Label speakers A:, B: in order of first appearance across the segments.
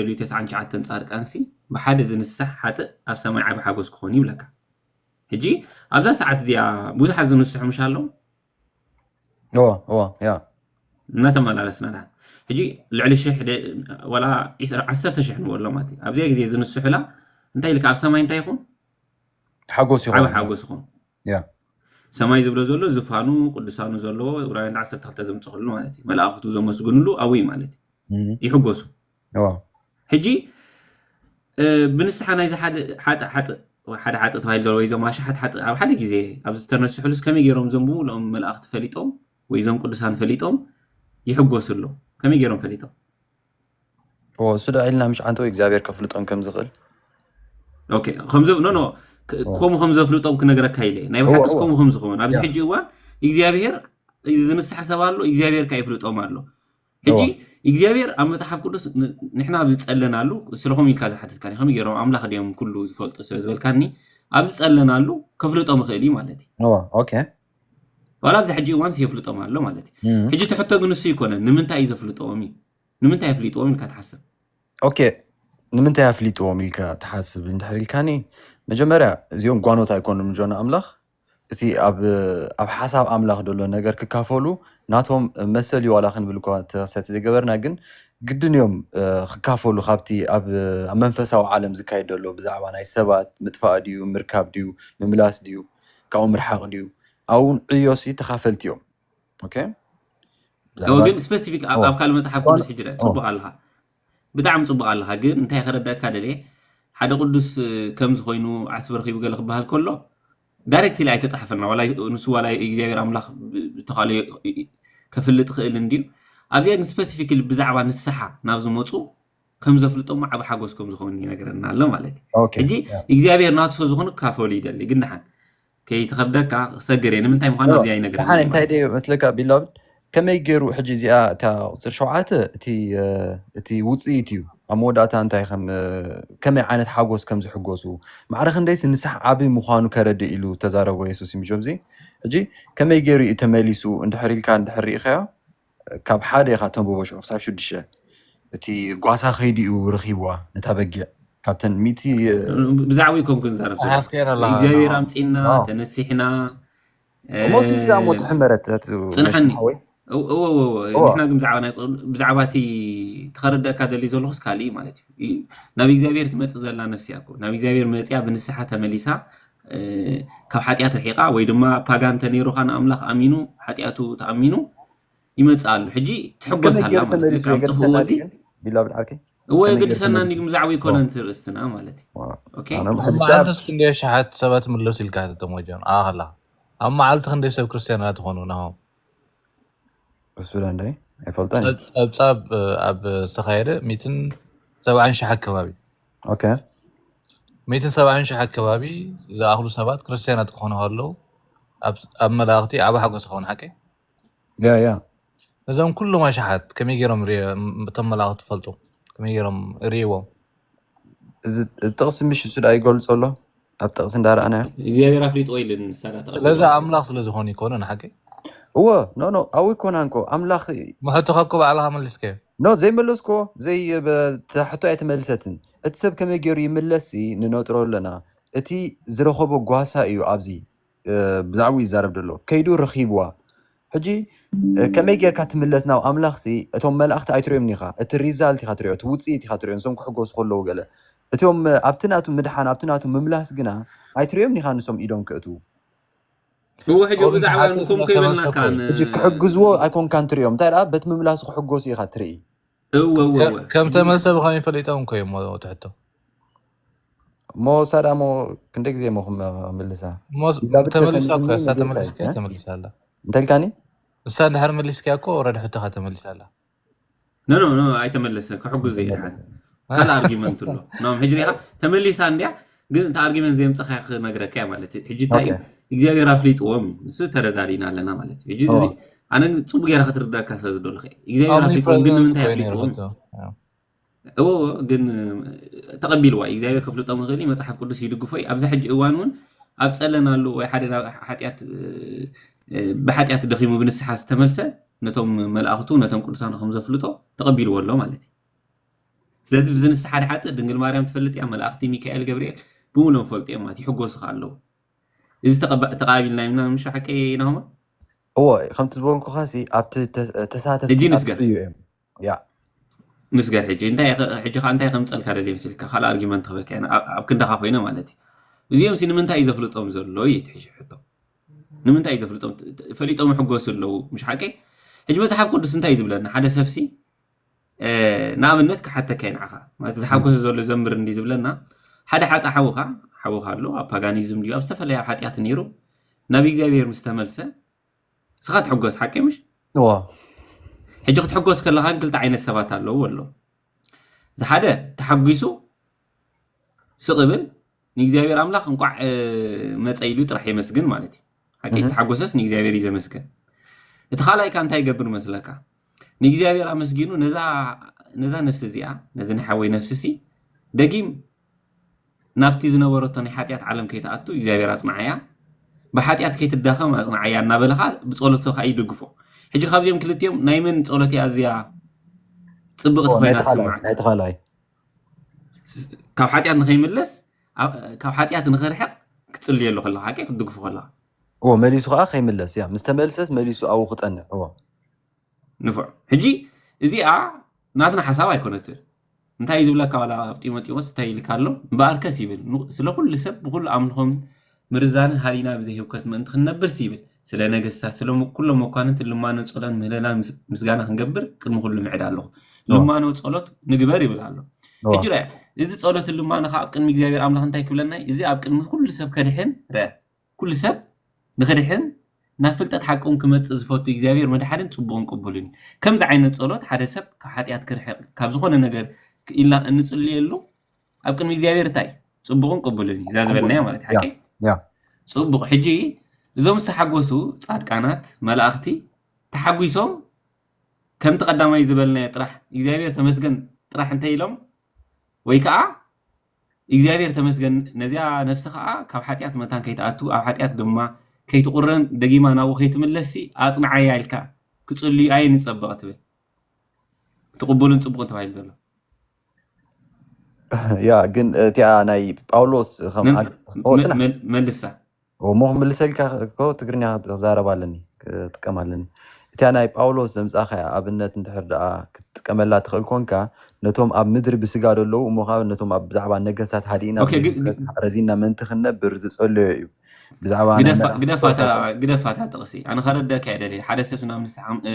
A: ልዕሊኡ ተስዓን ትሽዓተን ጻድቃንሲ ብሓደ ዝንሳሕ ሓጥእ ኣብ ሰማይ ዓቢ ሓጎስ ክኾንዩ ይብለካ ሕጂ ኣብዛ ሰዓት እዚኣ ብዙሓት ዝንስሑ ምሽ ኣለው እዎ እዎ
B: ያ እናተመላለስና
A: ድሓን ሕጂ ልዕሊ ሽሕ ዋላ ዓሰርተ ሽሕ ንበሎ ማለት እዩ ኣብዚኣ ግዜ ዝንስሑላ እንታይ ኢልካ ኣብ ሰማይ እንታይ ይኹን ሓጎስ
B: ይኹን ዓቢ ሓጎስ ይኹን
A: ያ
B: ሰማይ ዝብሎ
A: ዘሎ ዝፋኑ ቅዱሳኑ ዘለዎ ዕብራውያን ዓሰርተ ክልተ ዘምፀክሉ ማለት እዩ መላእክቱ ዘመስግንሉ ኣብይ ማለት እዩ እም፣ ይሕጎሱ ዋ ሕጂ እ፣ ብንስሓ ናይዚ ሓደ ሓጥእ ሓጥእ ወይ ሓደ ሓጥእ ተባሂሉ ዘሎ ወይ እዞም ኣሽሓት ሓጥእ ኣብ ሓደ ግዜ ኣብዚ ዝተነስሑሉስ ከመይ ገይሮም እዞም ብምሉኦም መላእኽቲ ፈሊጦም ወይ እዞም ቅዱሳን ፈሊጦም ይሕጎሱ ኣለዉ ከመይ ገይሮም ፈሊጦም
B: እሱ ዳዒልና ምሽ ዓንተ ወይ እግዚኣብሔር ከፍልጦም ከም ዝኽእል
A: ኦኬ ከምዚ ኖ ኖ ከምኡ ከም ዘፍልጦም ክነግረካ ኢለ ናይ ብሓቂ ከምኡ ከም ዝኸውን ኣብዚ ሕጂ እዋን እግዚኣብሄር ዝንስሐ ሰብ ኣሎ እግዚኣብሄር ከ ይፍልጦም ኣሎ ሕጂ እግዚኣብሄር ኣብ መጽሓፍ ቅዱስ ንሕና ኣብ ዝጸለናሉ ስለኹም ኢልካ ዝሓተትካኒ ከመይ ገይሮም ኣምላኽ ድዮም ኩሉ ዝፈልጡ ስለ ዝበልካኒ ኣብ ዝጸለናሉ ከፍልጦም ይኽእል እዩ ማለት እዩ ኦኬ
B: ዋላ
A: ኣብዚ ሕጂ እዋንስ የፍልጦም ኣሎ ማለት እዩ ሕጂ ትሕቶ ግን ንሱ ይኮነን ንምንታይ እዩ ዘፍልጦም እዩ ንምንታይ ኣፍሊጥዎም ኢልካ ትሓስብ?
B: ኦኬ ንምንታይ ኣፍሊጥዎም ኢልካ ትሓስብ እንድሕር ኢልካኒ መጀመርያ እዚኦም ጓኖት ኣይኮኑን ምጆና ኣምላኽ እቲ ኣብ ኣብ ሓሳብ ኣምላኽ ዘሎ ነገር ክካፈሉ ናቶም መሰል እዩ ዋላ ክንብል እኳ ተኸሰቲ ዘይገበርና ግን ግድን እዮም ክካፈሉ ካብቲ ኣብ ኣብ መንፈሳዊ ዓለም ዝካየድ ዘሎ ብዛዕባ ናይ ሰባት ምጥፋእ ድዩ ምርካብ ድዩ ምምላስ ድዩ ካብኡ ምርሓቕ ድዩ ኣብኡ ዕዮሲ ተኻፈልቲ እዮም።
A: ግን ስፐሲፊክ ኣብ ካልእ መፅሓፍ ቅዱስ ሕጂ ፅቡቅ ኣለካ ብጣዕሚ ፅቡቅ ኣለካ ግን እንታይ ከረደኣካ ደልየ ሓደ ቅዱስ ከምዚ ኮይኑ ዓስቢ ረኪቡ ገለ ክበሃል ከሎ ዳይሬክትሊ ኣይተፃሓፈና ንሱ ዋላ እግዚኣብሔር ኣምላክ ዝተካእሎ ከፍልጥ ክእል እንድዩ ኣብዚኣ ግን ስፐሲፊክሊ ብዛዕባ ንስሓ ናብ ዝመፁ ከም ዘፍልጦሞ ዓብ ሓጎስ ከም ዝኸውን ይነግረና ኣሎ ማለት እዩ ሕጂ እግዚኣብሔር ናቱ ሰዝኾኑ ክካፈሉ ይደሊ ግን ድሓን ከይትኸብደካ ክሰግር እየ ንምንታይ ምዃኑ ኣብዚኣ ኣይነግርህን ደሓን እየ እንታይ ማለት ድየ መስለካ
B: ቢላቭድ ከመይ ጌሩ ሕጂ እዚኣ እታ ቁጽሪ ሸውዓተ እቲ እቲ ውጽኢት እዩ ኣብ መወዳእታ እንታይ ከም ከመይ ዓይነት ሓጎስ ከም ዝሕጎሱ ማዕረ ክንደይሲ ንስሓ ዓቢ ምዃኑ ከረድእ ኢሉ ዝተዛረቦ የሱስ እዩ ምጆብዚ ሕጂ ከመይ ጌሩ እዩ ተመሊሱ እንድሕር ኢልካ እንድሕር ርኢኻዮ ካብ ሓደ ካብ ተምበቦሽዑ ክሳብ ሽዱሽተ እቲ ጓሳ ከይዲኡ ረኪብዋ ነታ በጊዕ ካብተን ሚእቲ። ብዛዕባ ዩ
A: ኮንኩ ዝዛረብ ዘለኩ ተሓስከየን ኣለካ እግዚኣብሔር ንዓ ኣምፂና ዋው ተነሲሕና እሞ
B: ስዲ ድኣ እሞ ትሕመረት እቲ ነቲ ፅንሐኒ
A: ሓወይ እወ እወ እወ እወ ንሕና ግን ብዛዕባ ናይ ቅዱስ ብዛዕባ እቲ እቲ ከረደኣካ ደሊ ዘለኩስ ካሊእ እዩ ማለት እዩ ይ- ናብ እግዚኣብሔር ትመፅእ ዘላ ነፍሲ እያ እኮ ናብ እግዚኣብሔር መፂኣ ብንስሓ ተመሊሳ ካብ ሓጢኣት ርሒቃ ወይ ድማ ፓጋን ተነይሩካ ንኣምላኽ ኣሚኑ ሓጢኣቱ ተኣሚኑ ይመጽእ ኣሎ ሕጂ ትሕጎስ ከመይ ኣላ ጌሩ ማለት እዩ ተመሊሱ ካብ ጥፍኡ የገድሰና ወዲ ድዩ ግን ቢላ ብድ ዓርከይ እወ
B: ከመይ ጌሩ የገድሰና ተመሊሱ
A: እንዲኩም ዛዕባ ኦ ኣይኮነን ርእስትና ማለት እዩ ኦ ኦኬ ኣነ ኣብ ሕጂ ሰዓብ መዓልትስ ክንደይ
C: ኣሽሓት ሰባት ይምለሱ ኢልካ ሕተቶም ወጀን ንዓኻ ከለኻ ኣብ መዓልቲ ክንደይ ሰብ ክርስትያን ኢና ትኾኑ ናሆም
B: እሱ ዶ እንደ ኣይፈልጦን እየ ጸብ ጸብጻብ እ፣
C: ኣብ ዝተኻየደ ሚትን ሰብዓን ሽሕ ኣከባቢ
B: ኦኬ
C: ሚእትን ሰብዓን ሽሕ ኣከባቢ ዝኣኽሉ ሰባት ክርስትያናት ክኾኑ ከለዉ ኣብ መላእኽቲ ዓቢ ሓጎስ ይኸውን ሓቂ ያ ያ
B: ነዞም
C: ኩሎም ኣሽሓት ከመይ ገይሮም እቶም መላእኽቲ ትፈልጡ ከመይ ገይሮም ርእይዎም እዚ
B: ጥቕሲ ምሽ እሱ ደኣ ይገልጾ ኣሎ ኣብ ጥቕሲ እንዳረኣናዮ እግዚኣብሔር ኣፍሊጥዎ
A: ኢልን ንሳ ዳኣ ተቀቢልዋ ስለዚ ኣምላኽ ስለ
C: ዝኾኑ ኣይኮኑን ሓቀይ? እወ ኖ ኖ
B: ኣውይኮናንኮ ኣምላኽ ዩ። እሞ ሕቶኻ እኮ
C: ባዕልኻ መልስካዮ። ኖ ዘይመለስክዎ
B: ዘይ እታ ሕቶ ኣይተመልሰትን እቲ ሰብ ከመይ ጌሩ ይምለስ ሲ ንነጥሮ ኣለና እቲ ዝረኸቦ ጓሳ ኢዩ ኣብዚ። ብዛዕባኡ ይዛረብ ዘሎ ከይዱ ረኺብዋ ሕጂ ከመይ ጌርካ ትምለስ ናብ ኣምላኽ ሲ እቶም መላእኽቲ ኣይትሪኦምን ኢኻ እቲ ሪዛልት ኢኻ ትሪኦ እቲ ውጽኢት ኢኻ ትሪኦ ንሶም ክሕጎሱ ከለዉ ገለ እቶም ኣብቲ ናቱ ምድሓን ኣብቲ ናቱ ምምላስ ግና ኣይትሪኦምን ኢኻ ንሶም ኢዶም ክእትዉ እዎ ሕጂ ካብኦም
A: ብዛዕባ ዝሓትት ንሶም ዘይተበሰኩ ከይበልናካን ሕጂ ክሕግዝዎ
B: ኣይኮንካን ትሪኦም እንታይ ደኣ በቲ ምምላሱ ክሕጎሱ ኢኻ ትርኢ እወወወ
A: ከም ተመልሰ
C: ብኸመይ ፈሊጦም እኮ እዮም እሞ ትሕቶ እሞ
B: ሳዳ እሞ ክንደይ ግዜ እሞ ክምልሳ እሞ ዳብድ ተመሊሳ እኮ ተሰሚዑኒ
C: እሳ ንጌታ ተመሊስካ እዩ ተመሊሳ ኣላ እንታይ ኢልካኒ
B: እሳ እንድሕር
C: መሊስካ እኮ ወረድ ሕቶኻ ተመሊሳ ኣላ ኖ ኖ ኖ
A: ኣይተመለሰ ክሕግዙ እየ ድሓን ኣይተመለሰ ካልእ ኣርጊመንት ኣሎ ኖም ሕጂ ሪኢኻ ተመሊሳ እንድያ ግን እንተ ኣርጊመን ዘየምጸኻዮ ክነግረካ እየ ማለት እዩ ሕጂ እንታይ እዩ እግዚኣብሔር ኣፍሊጥዎም እዩ ንሱ ተረዳዲና ኣለና ማለት እዩ ሕጂ እዚ ኣነ ግን ጽቡቅ ጌራ ክትርዳካ ስለ ዝደለኹ እየ እግዚኣብሔር ኣፍሊጥዎም ግን ንምንታይ ኣፍሊጥዎም እዎ ግን ተቐቢልዋ እዩ እግዚኣብሔር ከፍልጦም ይኽእል እዩ መጽሓፍ ቅዱስ ይድግፎ እዩ ኣብዚ ሕጂ እዋን እውን ኣብ ጸለናሉ ወይ ሓደ ሓጢኣት ብሓጢኣት ደኺሙ ብንስሓ ዝተመልሰ ነቶም መልኣኽቱ ነቶም ቅዱሳኑ ከም ዘፍልጦ ተቐቢልዎ ኣሎ ማለት እዩ ስለዚ ብዚ ንሳ ሓደ ሓጥእ ድንግል ማርያም ትፈልጥ እያ መላእክቲ ሚካኤል ገብርኤል ብሙሎም ፈልጡ እዮም ማለት ይሕጎሱ ከኣ ኣለዉ እዚ ተቃቢልና ኢና ምሽ ሓቀይ ናሆማ። እወ
B: ከምቲ ዝበልኩኻ ሲ ኣብቲ ተሳተፍቲ ሕጂ ንስገር ኣብኡ
A: እዮም ያ ንስገር ሕጂ እንታይ ከ- ሕጂ ከኣ እንታይ ከምጸልካ ደልየ መሲልካ ካልእ ኣርጊመንት ክበካ ኢና ኣብ ኣብ ክንዳኻ ኮይነ ማለት እዩ እዚኦም ሲ ንምንታይ እዩ ዘፍልጦም ዘሎ እዩ እቲ ሕጂ ሕቶ ንምንታይ እዩ ዘፍልጦም ት- ት- ፈሊጦም ይሕጎሱ ኣለዉ ምሽ ሓቀይ ሕጂ መጽሓፍ ቅዱስ እንታይ እዩ ዝብለና ሓደ ሰብሲ ንኣብነት ክሓተካ ንዓኻ ማለት ዝሓጎሰ ዘሎ ዘምር እንዲ ዝብለና ሓደ ሓጥእ ሓውኻ ሓውኻ ኣሎ ኣብ ፓጋኒዝም ድዩ ኣብ ዝተፈላለያ ሓጢኣት ነይሩ ናብ እግዚኣብሔር ምስ ተመልሰ ንስኻ ትሕጎስ ሓቀይ ምሽ እዎ ሕጂ ክትሕጎስ ከለኻ ግን ክልተ ዓይነት ሰባት ኣለዉ ኣሎ ዝሓደ ተሓጒሱ ስቕ ብል ንእግዚኣብሔር ኣምላኽ እንቋዕ መጸ ኢሉ ጥራሕ የመስግን ማለት እዩ ሓቂ ዝተሓጎሰስ ንእግዚኣብሔር እዩ ዘመስግን እቲ ካልኣይካ እንታይ ይገብር መስለካ ንእግዚኣብሔር ኣመስጊኑ ነዛ ነዛ ነፍሲ እዚኣ ነዚ ናይ ሓወይ ነፍሲ ሲ ደጊም ናብቲ ዝነበረቶ ናይ ሓጢኣት ዓለም ከይትኣቱ እግዚኣብሔር ኣፅናዓያ ብሓጢኣት ከይትዳኸም ኣፅናዓያ እናበለኻ ብፀሎቶ ከዓ ይድግፎ ሕጂ ካብዚኦም ክልቲኦም ናይ መን ፀሎት እያ ኣዝያ ፅብቕቲ ኮይና ትስማዕ ካብ ሓጢኣት ንኸይምለስ ካብ ሓጢኣት ንኽርሕቕ ክትጽልየሉ ከለኻ ሓቂ ክትድግፉ ከለኻ እዎ መሊሱ ከዓ
B: ከይምለስ እያ ምስ ተመልሰስ መሊሱ ኣብኡ ክጸንዕ እዎ ንፉዕ
A: ሕጂ እዚኣ ናትና ሓሳብ ኣይኮነትን እንታይ እዩ ዝብለካ ዋላ ኣብ ጢሞቴዎስ እንታይ ኢልካ ኣሎ እምበኣርከስ ይብል ስለ ኩሉ ሰብ ብኩሉ ኣምልኾም ምርዛንን ሃሊና ብዘይ ህውከት ምእንቲ ክንነብርሲ ይብል ስለ ነገስታት ስለ ኩሎም መኳንንትን ልማኖ ጸሎን ምህለላን ምስጋና ክንገብር ቅድሚ ኩሉ ምዕድ ኣለኹ ልማኖ ጸሎት ንግበር ይብል ኣሎ ሕጂ ረኣ እዚ ጸሎትን ልማኖ ከኣ ኣብ ቅድሚ እግዚኣብሔር ኣምላኽ እንታይ ክብለና እዩ እዚ ኣብ ቅድሚ ኩሉ ሰብ ከድሕን ረኣ ኩሉ ሰብ ንክድሕን ናብ ፍልጠት ሓቂ እውን ክመጽእ ዝፈቱ እግዚኣብሔር መድሓንን ጽቡቕን ቅቡልን እዩ ከምዚ ዓይነት ጸሎት ሓደ ሰብ ካብ ሓጢኣት ክርሕቕ ካብ ዝኾነ ነገር ኢልና እንጽልየሉ ኣብ ቅድሚ እግዚኣብሔር እንታይ ጽቡቕን ቅቡልን እዩ እዛ ዝበልናያ ማለት ሓቂ
B: ጽቡቕ ሕጂ
A: እዞም ዝተሓጎሱ ጻድቃናት መላእኽቲ ተሓጒሶም ከምቲ ቀዳማይ ዝበልናዮ ጥራሕ እግዚኣብሔር ተመስገን ጥራሕ እንተይ ኢሎም ወይ ከዓ እግዚኣብሔር ተመስገን ነዚኣ ነፍሲ ከዓ ካብ ሓጢኣት መታን ከይትኣቱ ኣብ ሓጢኣት ድማ ከይትቑረን ደጊማ ናብኡ ከይትምለስሲ ኣጽንዓያ ኢልካ ክጽልዩ ኣየ ንጸበቐ ትብል እቲ ቅቡልን ጽቡቕን ተባሂሉ ዘሎ
B: ያ ግን እቲኣ ናይ ጳውሎስ ከም መን ኣግ- ኦ መን ጽናሕ መን
A: መልሳ እሞ
B: ክምልሰልካ እኮ ትግርኛ ክዛረብ ኣለኒ ክጥቀም ኣለኒ እቲኣ ናይ ጳውሎስ ዘምጻኻያ ኣብነት እንድሕር ደኣ ክትጥቀመላ ትኽእል ኮንካ ነቶም ኣብ ምድሪ ብስጋ ዘለዉ እሞ ኸኣ ነቶም ኣብ ብዛዕባ ነገስታት ሃዲእና ኦኬ ግ- ብዘይምሕረት ግ- ረዚንና ምእንቲ ክንነብር ዝጸለዮ እዩ ብዛዕባ ናይ ግደፋ መላእኽቲ ግደፋ እታ ጸሎት
A: ግደፋ እታ ጥቕሲ ኣነ ከረደካ እየ ደልየ ሓደ ሰብ ናብ ንስሓ እ፣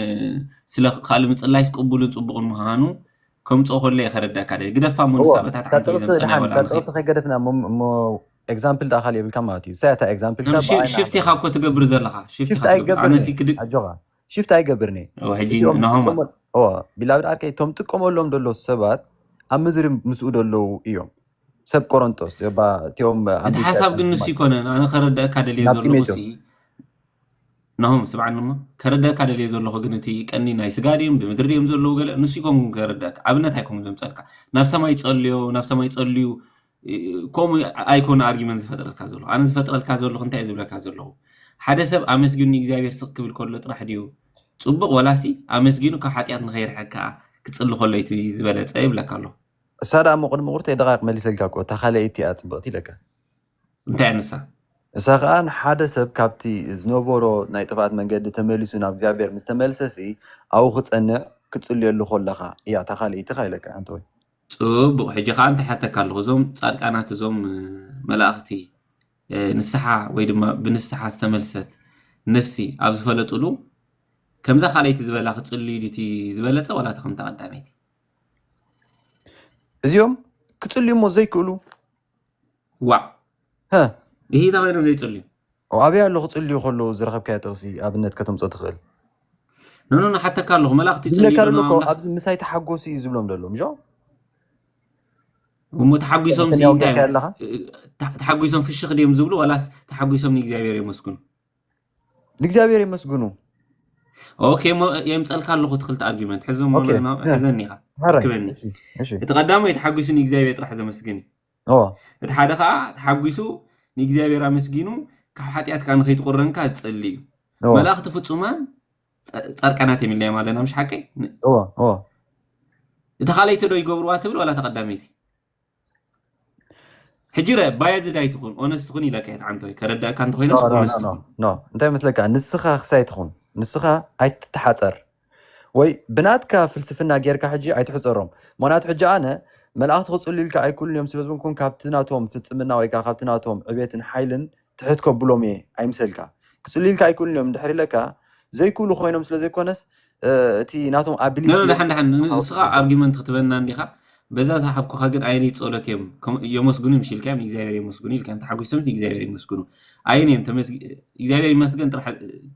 A: ስለ ካልእ ምጽላይስ ቅቡልን ጽቡቕን ምዃኑ ከምጽኦ ከሎ'የ ከረድኣካ ደልየ። ግደፋ እሞ ንሳ በታ እታ ዓንተቢላ ምስ ናይ ወልኣ መኺድ። ጥቕሲ
B: ከይገደፍና እሞ ኤግዛምፕል ደኣ ካልእ የብልካን ማለት እዩ። እሰይ ኣታ ኤግዛምፕልካ ብኣይኒ ኣምበሳ። ሽፍት ኢኻ እኮ
A: ትገብር ዘለኻ። ሽፍት ኢኻ ትገብር። ኣነሲ ክድግ። ኣጆኻ ሽፍት
B: ኣይገብርን'የ። እወ ሕጂ
A: ናሆማ። እወ ቢላብድ
B: ዓርከይ እቶም ትጥቀመሎም ደሎ ሰባት ኣብ ምድሪ ምስኡ ደለዉ እዮም። ሰብ ቆረንጦስ እባ እቲኦም። እቲ ሓሳብ ግን ንሱ
A: ኣይኮነን ኣነ ከረድኣካ ደልየ ዘለኹሲ። ናሆም ስምዓኒ እሞ ከረደኣካ ደልየ ዘለኹ ግን እቲ ቀንዲ ናይ ስጋ ድዮም ብምድሪ ድዮም ዘለዉ ገለ ንሱ ኣይኮንኩን ከረደኣካ ኣብነት ኣይኮንኩን ዘምጸልካ ናብ ሰማይ ጸልዮ ናብ ሰማይ ጸልዩ ከምኡ ኣይኮነ ኣርጊመን ዝፈጥረልካ ዘለኹ ኣነ ዝፈጥረልካ ዘለኹ እንታይ ዝብለካ ዘለኹ ሓደ ሰብ ኣመስጊኑ ንእግዚኣብሔር ስቕ ክብል ከሎ ጥራሕ ድዩ ጽቡቕ ወላሲ ኣመስጊኑ ካብ ሓጢኣት ንኸይርሕቅ ከኣ ክጽሊ ከሎ እቲ ዝበለጸ ይብለካ ኣለኹ። እሳ ደኣ እሞ
B: ቅድሚ ቁርተይ ደቓይቕ መሊሰልካ እኮ እታ ካልኣይቲ እያ ጽብቕቲ ኢለካ። እንታይ
A: እያ ንሳ? ንሳ ኸኣ
B: ንሓደ ሰብ ካብቲ ዝነበሮ ናይ ጥፍኣት መንገዲ ተመሊሱ ናብ እግዚኣብሔር ምስ ተመልሰሲ ኣብኡ ክጸንዕ ክትጽልየሉ ከሎኻ እያ እታ ካልኣይቲ ከኣ ኢለካ ኣንተወይ። ጽቡቕ ሕጂ
A: ከኣ እንታይ እሓተካ ኣለኹ እዞም ጻድቃናት እዞም መላእኽቲ ንስሓ ወይ ድማ ብንስሓ ዝተመልሰት ነፍሲ ኣብ ዝፈለጥሉ ከምዛ ካልኣይቲ ዝበላ ክጽልዩ ድዩ እቲ ዝበለጸ ዋላ እታ ከምታ ቀዳመይቲ?
B: እዚኦም ክጽልዩ እሞ ዘይክእሉ
A: ዋእ
B: ሃህ እሂ ታይ ኮይኖም
A: ዘይጽልዩ። ኣበይ ኣሎ ክጽልዩ
B: ከለዉ ዝረኸብካዮ ጥቕሲ ኣብነት ከተምጽኦ ትኽእል? ኖኖ
A: ንሓተካ ኣለኹ መላእኽቲ ይጽልዩ ዝብለካ ዶ ዘሎ እኮ ንኣምላኽ? ኣብዚ ምሳይ
B: ተሓጎሱ እዩ ዝብሎም ዘሎ ምጆ። እሞ ተሓጒሶም
A: ሲ ሰሚያ እንታይ ወጊዕካዮ እዮም ኣለኻ? እ፣ ተ- ተሓጒሶም ፍሽኽ ድዮም ዝብሉ ዋላስ ተሓጒሶም ንእግዚኣብሔር የመስግኑ?
B: ንእግዚኣብሔር የመስግኑ።
A: ኦኬ እሞ የምጸልካ ኣለኹ እቲ ክልተ ኣርጊመንት ሕዞሞ ኦኬ፣ ን- እ፣ ሕዘኒ ኢኻ ሕረይ፣ ኣክበኒ። እሺ፣ እሺ። እቲ ቀዳማይ ተሓጒሱ ንእግዚኣብሔር ጥራሕ ዘመስግን እዩ። እቲ ሓደ ኸኣ ተሓጒሱ ንእግዚኣብሔር ኣመስጊኑ ካብ ሓጢኣት ከኣ ንኸይትቑረን ከኣ ዝጸሊ እዩ። መላእኽቲ ፍጹማን ጻድቃናት እዮም ኢልናዮም ኣለና ምሽ ሓቀይ? እታ ካልኣይቲ ዶ ይገብርዋ ትብል ዋላ እታ ቀዳመይቲ? ሕጂ ርኣ ባያዝድ ኣይትኹን ኦነስት ኩን ኢላካ እየ ተዓንተወይ ከረድኣካ እንተኾይነስ ኦነስት ኩን። እንታይ
B: መስለካ ንስኻ ክሳይ ትኹን ንስኻ ኣይትተሓጸር ወይ ብናትካ ፍልስፍና ጌርካ ሕጂ ኣይትሕጸሮም ምኽንያቱ ሕጂ ኣነ መላእኽቲ ክጽልዩልካ ኣይክእሉን እዮም ስለ ዝበልኩ ካብቲ ናቶም ፍጽምና ወይ ከኣ ካብቲ ናቶም ዕቤትን ሓይልን ትሕት ከብሎም እየ ኣይምሰልካ ክጽልዩልካ ኣይክእሉን እዮም እንድሕር ኢለካ ዘይክእሉ ኮይኖም ስለ ዘይኮነስ እቲ ናቶም ኣቢሊቲ ኖኖ ዳሓን ዳሓን
A: ንስኻ ኣርጊመንት ክትበና እንዲኻ በዛ ዝሃብኩኻ ግን ኣየነይቲ ጸሎት እዮም የመስግኑ ምሽ ኢልካዮም ንእግዚኣብሔር የመስግኑ ኢልካዮም ተሓጒሶምሲ እግዚኣብሔር ይመስግኑ ኣየነዮም ተመስግ እግዚኣብሔር ይመስገን ጥራሕ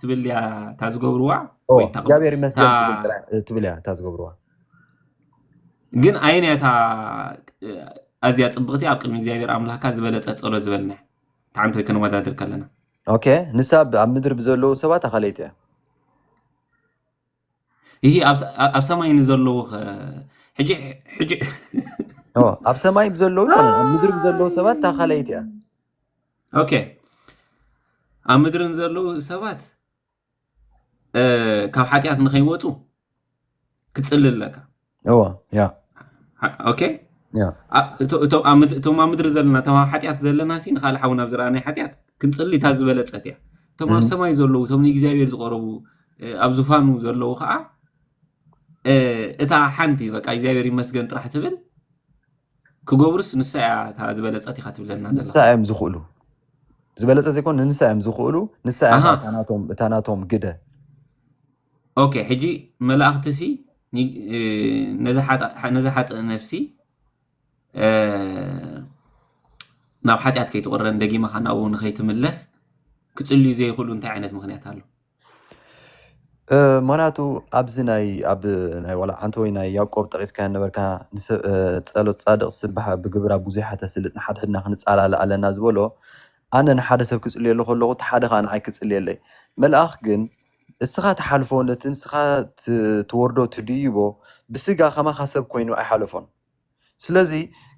A: ትብል እያ እታ ዝገብርዋ ኦ ወይ እታ እግዚኣብሔር ይመስገን ትብል
B: እታ ጥራሕ እ፣ ትብል እያ እታ ዝገብርዋ
A: ግን ኣየን እያ እታ እ፣ ኣዝያ ጽብቕቲ ኣብ ቅድሚ እግዚኣብሔር ኣምላኽካ ዝበለጸት ጸሎት ዝበልና እያ እታ ሓንቲ ወይ ከነወዳድር ከለና ኦኬ ንሳ
B: ብ- ኣብ ምድሪ ብዘለዉ ሰባት ኣኻለይቲ እያ
A: እሂ ኣብ ሰማይ ንዘለዉኸ ሕጂ ሕጂ
B: ኣብ ሰማይ ብዘለዉ ይኮነን ኣብ ምድሪ ብዘለዉ ሰባት እታ ካልኣይቲ እያ ኦኬ
A: ኣብ ምድሪ ንዘለዉ ሰባት ካብ ሓጢኣት ንኸይወፁ ክትፅሊ ኣለካ እዎ
B: ያ
A: ኦኬ ያ ኣ- እቶ- እቶ- ኣብ ምድ- እቶም ኣብ ምድሪ ዘለና እቶም ኣብ ሓጢኣት ዘለና ሲ ንካልእ ሓውና ኣብ ዝረኣናይ ሓጢኣት ክንፅሊ እታ ዝበለፀት እያ እቶም ኣብ እም፣ ሰማይ ዘለዉ እቶም ንእግዚኣብሔር ዝቐረቡ እ፣ ኣብ ዝፋኑ ዘለዉ ከዓ እ፣ እታ ሓንቲ በቃ እግዚኣብሔር ይመስገን ጥራሕ ትብል ክገብሩስ ንሳ እያ እታ ዝበለፀት ኢኻ ትብለና ንሳ ዘለኻ እዮም ዝኽእሉ
B: ዝበለፀ ዘይኮን ንንሳ እዮም ዝኽእሉ ንሳ እያ ከዓ ኣሃ እታ ናቶም እታ ናቶም ግደ
A: ኦኬ ሕጂ መላእኽቲሲ ነዛ ሓጥእ ነፍሲ ናብ ሓጢኣት ከይትቕረን ደጊማ ኸኣ ናብኡ ንኸይትምለስ ክጽልዩ ዘይኽእሉ እንታይ ዓይነት ምኽንያት ኣሎ?
B: ምክንያቱ ኣብዚ ናይ ኣብ ናይ ዋላ ሓንቲ ወይ ናይ ያዕቆብ ጠቂስካዮ ነበርካ ጸሎት ጻድቅ ስብሓ ብግብራ ብዙሓት ተስልጥ ንሓድሕድና ክንጻላለ ኣለና ዝበሎ ኣነ ንሓደ ሰብ ክጽልየሉ ከለኩ እቲ ሓደ ከኣ ንዓይ ክጽልየለይ መልኣክ ግን እስኻ ትሓልፎ ነቲ ንስኻ ትወርዶ ትድይቦ ብስጋ ከማኻ ሰብ ኮይኑ ኣይሓለፎን ስለዚ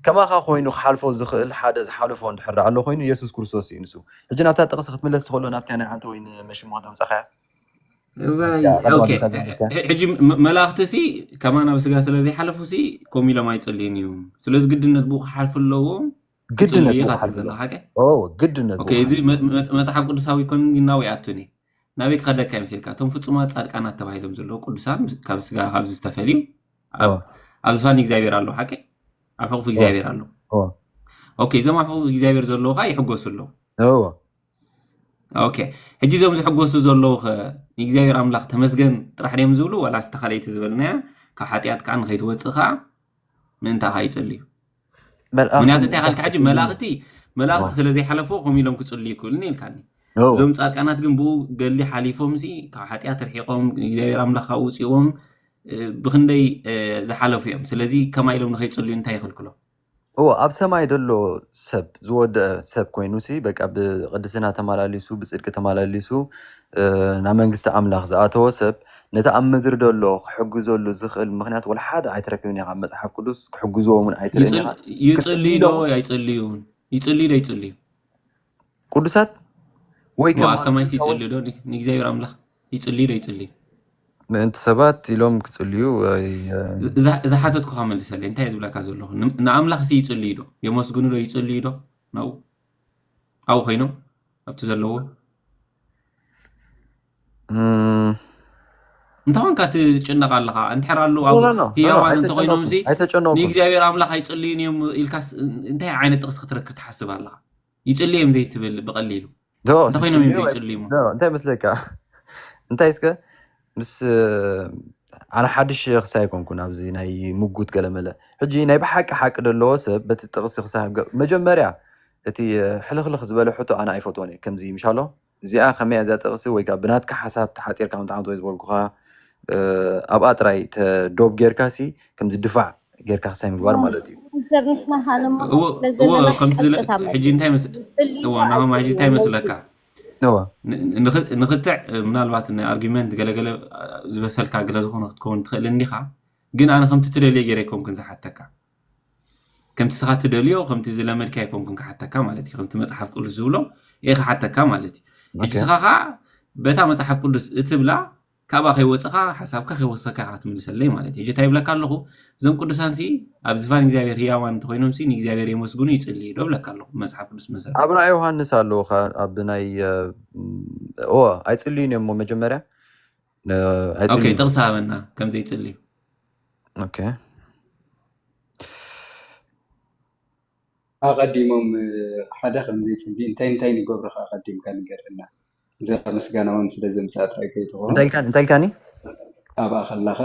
B: ከማኻ ኮይኑ ክሓልፎ ዝኽእል ሓደ ዝሓለፎ እንድሕር ደኣ ኣሎ ኮይኑ የሱስ ክርስቶስ እዩ ንሱ ሕጂ ናብታ ጥቕሲ ክትምለስ ትኽእሎ ናብታ ናይ ሓንቲ ወይ ንመሽሞ ከተምጻኻያ እዋይ ኣብታ ቀደም ኦኬ ኣቢልካ
A: ዘንቢብካያ ሕ- ሕጂ መ- መላእኽቲ ሲ ከማና ብስጋ ስለ ዘይሓለፉ ሲ ከምኡ ኢሎም ኣይጸልዩን እዮም ስለዚ ግድነት ብኡ ክሓልፉ ኣለዎም ግድነት ጽሉይ ኢኻ ምዃኑ
B: ትብል ዘለኻ ከ ኦ ግድነት ኦኬ እዚ ምዃኑ
A: መ- መ- መጽሓፍ ቅዱሳዊ ኮን ግን ናበይ ኣቱን እዩ ናበይ ክኸደካ እዩ መሲልካ እቶም ፍጹማት ጻድቃናት ተባሂሎም ዘለዉ ቅዱሳን ምስ- ካብ ስጋ ካብዚ ዝተፈልዩ ኦ ኣብ ኣብ ዝፋኒ እግዚኣብሔር ኣለዉ ሓቂ ኣብ ሕቑፊ ኦ እግዚኣብሔር ኣለዉ ኦ ኦኬ እዞም ኣብ ሕቑፊ እግዚኣብሔር ዘለዉ ከዓ ይሕጎሱ ኣለዉ እዎ ኦኬ ሕጂ እዞም ዝሕጎሱ ዘለዉ ኸ ንእግዚኣብሔር ኣምላኽ ተመስገን ጥራሕ ድዮም ዝብሉ ዋላስ ተኻለይቲ ዝበልናያ ካብ ሓጢኣት ከዓ ንኸይትወፅእ ከዓ ምእንታኻ ይጽልዩ ምክንያቱ እንታይ ካልካ ሕጂ መላእኽቲ መላእኽቲ ስለ ዘይሓለፍዎ ከምኡ ኢሎም ክጽልዩ ይክእሉኒ ኢልካኒ እዞም ጻድቃናት ግን ብኡ ገሊ ሓሊፎም ሲ ካብ ሓጢኣት ርሒቆም እግዚኣብሔር ኣምላኽ ካብኡ ውጽዎም ብክንደይ ዝሓለፉ እዮም ስለዚ ከማይ ኢሎም ንኸይጽልዩ እንታይ ይኽልክሎም እዎ ኣብ ሰማይ
B: ደሎ ሰብ ዝወደአ ሰብ ኮይኑሲ በቃ ብቅድስና ተመላሊሱ ብጽድቂ ተመላሊሱ ናብ መንግስቲ ኣምላኽ ዝኣተወ ሰብ ነቲ ኣብ ምድሪ ደሎ ክሕግዘሉ ዝኽእል ምኽንያት ወላ ሓደ ኣይትረክብን ኢኻ፣ መጽሓፍ ቅዱስ ክሕግዝዎም ውን ኣይትርእን ይጽል ኢኻ፣ ይጽልዩ ዶ ክጽልዩሎም ወይ
A: ኣይጽልዩን? ይጽልዩ ዶ ኣይጽልዩን?
B: ቅዱሳት ወይ እሞ ኣብ ከማና ሰማይስ ክንከውን
A: ይጽልዩ ዶ? ን ንእግዚኣብሔር ኣምላኽ ይጽልዩ ዶ ኣይጽልዩን? ምእንቲ
B: ሰባት ኢሎም ክጽልዩ ዝ እዛ
A: እዛ ሓተትኩኻ መልሰለይ እንታይ እየ ዝብለካ ዘለኹ ን ንኣምላኽሲ ይጽልዩ ዶ? የመስግኑ ዶ? ይጽልዩ ዶ? ናብኡ ኣብኡ ኮይኖም ኣብቲ ዘለዎ እንታይ ኮንካ ትጭነቕ ኣለኻ እንድሕር ኣሉ ህያዋን እንተኮይኖም እዚ ንእግዚኣብሔር ኣምላኽ ኣይፅልዩን እዮም ኢልካስ እንታይ ዓይነት ጥቕሲ ክትረክብ ትሓስብ ኣለኻ ይፅልዩ እዮም ዘይትብል ብቐሊሉ እንተኮይኖም እዮም ዘይፅልዩ እንታይ መስለካ
B: እንታይ እስከ ምስ ኣነ ሓድሽ ኽሲ ኣይኮንኩን ኣብዚ ናይ ምጉት ገለመለ ሕጂ ናይ ብሓቂ ሓቂ ደለዎ ሰብ በቲ ጥቅሲ ክሳብ መጀመርያ እቲ ሕልኽልኽ ዝበለ ሕቶ ኣነ ኣይፈትዎን እየ ከምዚ ምሻሎ እዚኣ ከመይ እያ እዛ ጥቅሲ ወይ ከኣ ብናትካ ሓሳብ ተሓጺርካ ምጥዓም ተወይ ዝበልኩኻ ኣብኣ ጥራይ ተ ዶብ ጌርካ ሲ ከምዚ ድፋዕ ጌርካ ክሳይ ምግባር ማለት እዩ። እወ ከምቲ
A: ዝለ ሕጂ እንታይ መስ እወ ናሆም ሕጂ እንታይ መስለካ እወ ንክትዕ ምናልባት ናይ ኣርጊመንት ገለ ገለ ዝበሰልካ ገለ ዝኾነ ክትከውን ትኽእል እንዲኻ ግን ኣነ ከምቲ ትደልዮ ገይረ ኣይኮንኩን ዝሓተካ ከምቲ ንስኻ ትደልዮ ከምቲ ዝለመድካ ኣይኮንኩን ክሓተካ ማለት እዩ ከምቲ መፅሓፍ ቅዱስ ዝብሎ እየ ክሓተካ ማለት እዩ ሕጂ ስኻ ከዓ በታ መፅሓፍ ቅዱስ እትብላ ካብኣ ከይወጸኻ ሓሳብካ ከይወሰካ ኢኻ ክትምልሰለይ ማለት እዩ። ሕጂ እንታይ ይብለካ ኣለኹ እዞም ቅዱሳንሲ ኣብ ዝፋን እግዚኣብሔር ህያዋን እንተኾይኖምሲ ንእግዚኣብሔር የመስግኑ ይጽልዩ ዶ እብለካ ኣለኹ ብመጽሓፍ ቅዱስ መሰረት። ኣብ ራእይ ዮሃንስ ኣለዉ
B: ከኣ ኣብ ናይ እወ ኣይጽልዩን እዮም እሞ መጀመርያ ኦኬ
A: ኣይጽልዩን ጥቕሲ ሃበና ከም ዘይጽልዩ። ኦኬ
D: ኣቐዲሞም ሓደ ከም ዘይጽሊ እንታይ እንታይ ንገብሩ ከ ኣቐዲምካ ንገረና። እዛ ምስጋና ውን ስለ ዘምጽኣ ጥራይ ከይትኸውን፣ እንታይ ኢልካኒ?
B: ኣብኣ
D: ከለኻ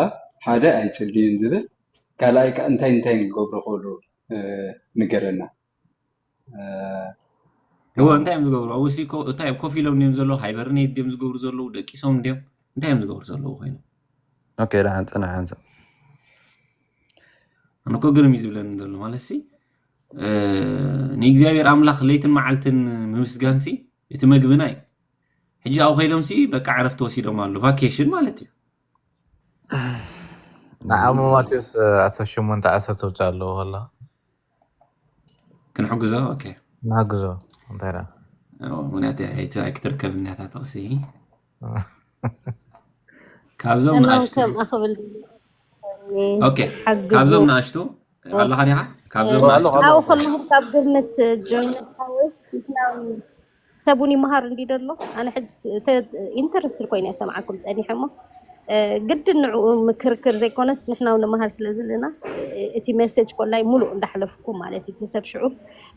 D: ሓደ ኣይጽልዩን ዝብል ካልኣይ ከኣ እንታይ እንታይን ክገብሩ ይኽእሉ ንገረና።
A: እወ እንታይ እዮም ዝገብሩ ኣብኡ ሲ እንታይ ኮፍ ኢሎም ድዮም ዘለዉ ሃይበርኔት ድዮም ዝገብሩ ዘለዉ ደቂሶም ድዮም እንታይ እዮም ዝገብሩ ዘለዉ ኮይኖም ኦኬ ደሓን
B: ፅናሕ ሓንሳ ኣነ
A: እኮ ግርም እዩ ዝብለኒ ዘሎ ማለት ሲ ንእግዚኣብሔር ኣምላኽ ለይትን መዓልትን ምምስጋን ሲ እቲ መግብና እዩ ሕጂ ኣብኡ ከይዶም ሲ በቃ ዕረፍቲ ወሲዶም ኣሎ ቫኬሽን ማለት እዩ
C: ንዓሞ ማቴዎስ ዓሰርተ ሸሞንተ ዓሰርተ ተውፅእ ኣለዎ ከላ
A: ክንሕግዞ ኦኬ ንሓግዞ
C: እንታይ ደኣ
A: ምክንያቱ ኣይክትርከብን እያ እታ ጥቕሲ ካብዞም ንኣሽቱ ካብዞም ንኣሽቱ ኣለኻ ዲኻ ካብዞም ንኣሽቱ ኣብኡ ከለኹ ካብ
E: ግምት ጆይን ሓወስ ሰብ እውን ይመሃር እንዲ ደሎ ኣነ ሕዚ ኢንተረስት ኮይነ ሰምዓኩም ፀኒሐ እሞ ግድን ንዕኡ ምክርክር ዘይኮነስ ንሕና ንመሃር ስለ ዘለና እቲ መሰጅ ኮላይ ሙሉእ እንዳሕለፍኩ ማለት እዩ እቲ ሰብ ሽዑ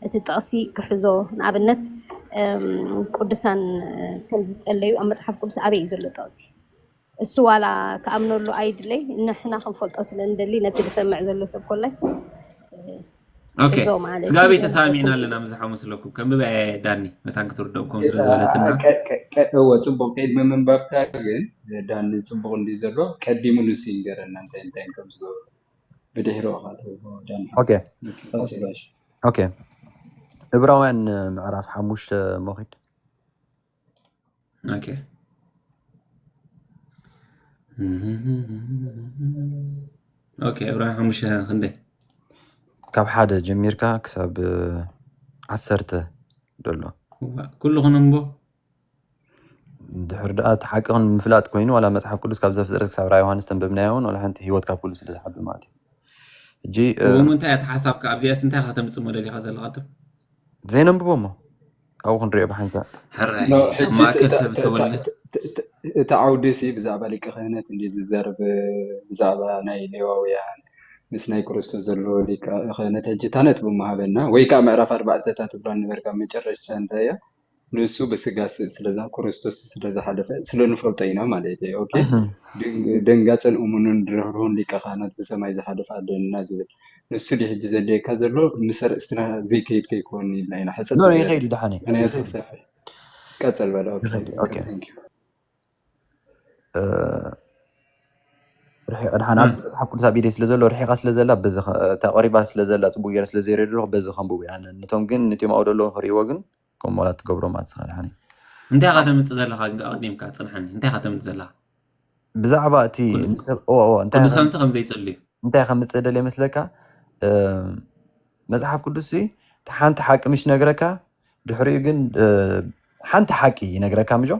E: እቲ ጥቕሲ ክሕዞ ንኣብነት ቅዱሳን ከም ዝጸለዩ ኣብ መጽሓፍ ቅዱስ ኣበይ እዩ ዘሎ ጥቕሲ? እሱ ዋላ ክኣምነሉ ኣይድለይ ንሕና ክንፈልጦ ስለ ንደሊ ነቲ ዝሰምዕ ዘሎ ሰብ ኮላይ
A: ኦኬ ስጋቤ ተሳሚዕና ኣለና ምዝሓ መስለኩም ከምብበ ዳኒ መታን ክትርደኦም ከም ስለ ዝበለትና እወ
D: ፅቡቅ ቅድሚ ምንባብካ ግን ዳኒ ፅቡቅ እንዲ ዘሎ ቀዲሙ ንሱ ይንገረና እንታይ እንታይ ከም ዝገብሩ ብድሕሪ
B: እብራውያን ምዕራፍ ሓሙሽተ ሞኪድ
A: እብራውያን ሓሙሽተ ክንደይ ካብ
B: ሓደ ጀሚርካ ክሳብ ዓሰርተ ደሎ ኩሉ
A: ክነንቦ ድሕሪ
B: ደኣ እቲ ሓቂ ግን ምፍላጥ ኮይኑ ዋላ መጽሓፍ ቅዱስ ካብ ዘፍጥረት ክሳብ ራእይ ዮሃንስ ተንበብናዮ እውን ዋላ ሓንቲ ህይወት ካብ ኩሉ ስለ ዝሓቢ ማለት እዩ ሕጂ እሞ እንታይ እያ ተሓሳብካ
A: ኣብዚኣስ እንታይ ኢኻ ተምጽእ መደሊኻ ዘለኻ ቅድም ዘይነንብቦ
B: እሞ ኣብኡ ክንሪኦ ብሓንሳእ ሕራይ ኖ ኣብ ሕጂ
A: ማእከል ሰብ ተወለ እቲ
D: ዓውዲ ሲ ብዛዕባ ሊቀ ክህነት እንዲ ዝዘርብ ብዛዕባ ናይ ሌዋውያን ምስ ናይ ክርስቶስ ዘሎ ሊቀ ክህነት ሕጂ እታ ነጥቢ እሞ ሃበና ወይ ከዓ ምዕራፍ ኣርባዕተ እታ ትብላ ነበርካ መጨረሽታ እንታይ እያ ንሱ ብስጋ ስለዝሃ ክርስቶስ ስለ ዝሓለፈ ስለ ንፈልጦ ኢና ማለት እዩ። ኦኬ ደንጋፅን እሙንን ርህሩህን ሊቀ ካህናት ብሰማይ ዝሓለፈ ኣለና ዝብል ንሱ ዲ ሕጂ ዘድልየካ ዘሎ ምስ ኣርእስትና ዘይከይድ ከይኮን ኢልና ኢና ሕፅር ኖ ይኸይድ እዩ ደሓን እዩ
B: ምክንያቱ ክሰፍሕ
D: ቀፅል በለ ኦኬ፣ ይኸይድ እዩ፣ ኦኬ። ኦኬ፣ ታንክ ዩ።
B: ርሒቀ ድሓን ኣብዚ መጽሓፍ ቅዱስ ኣብ ኢደይ ስለ ዘሎ ርሒቃ ስለ ዘላ በዚ ተቐሪባ ስለ ዘላ ጽቡቅ ገይረ ስለ ዘይርኤ ደለኹ በዚ ከንብቡ እያ ነቶም ግን ነቶም ኣብኡ ደለዉ ክርእይዎ ግን ከም ሞላ ትገብሮም ኣትስኻ ድሓን እንታይ ኢኻ ተምጽእ ዘለኻ ግን
A: ኣቐዲምካ ጽንሓኒ እንታይ ኢኻ ተምጽእ ዘለኻ
B: ብዛዕባ እቲ ንሰብ እዋ እዋ እንታይ ቅዱሳንሲ ከም ዘይጽልዩ
A: እንታይ ከምጽእ ደለ
B: ይመስለካ መጽሓፍ ቅዱስ ሓንቲ ሓቂ ምሽ ነግረካ ድሕሪኡ ግን ሓንቲ ሓቂ ይነግረካ ምጆ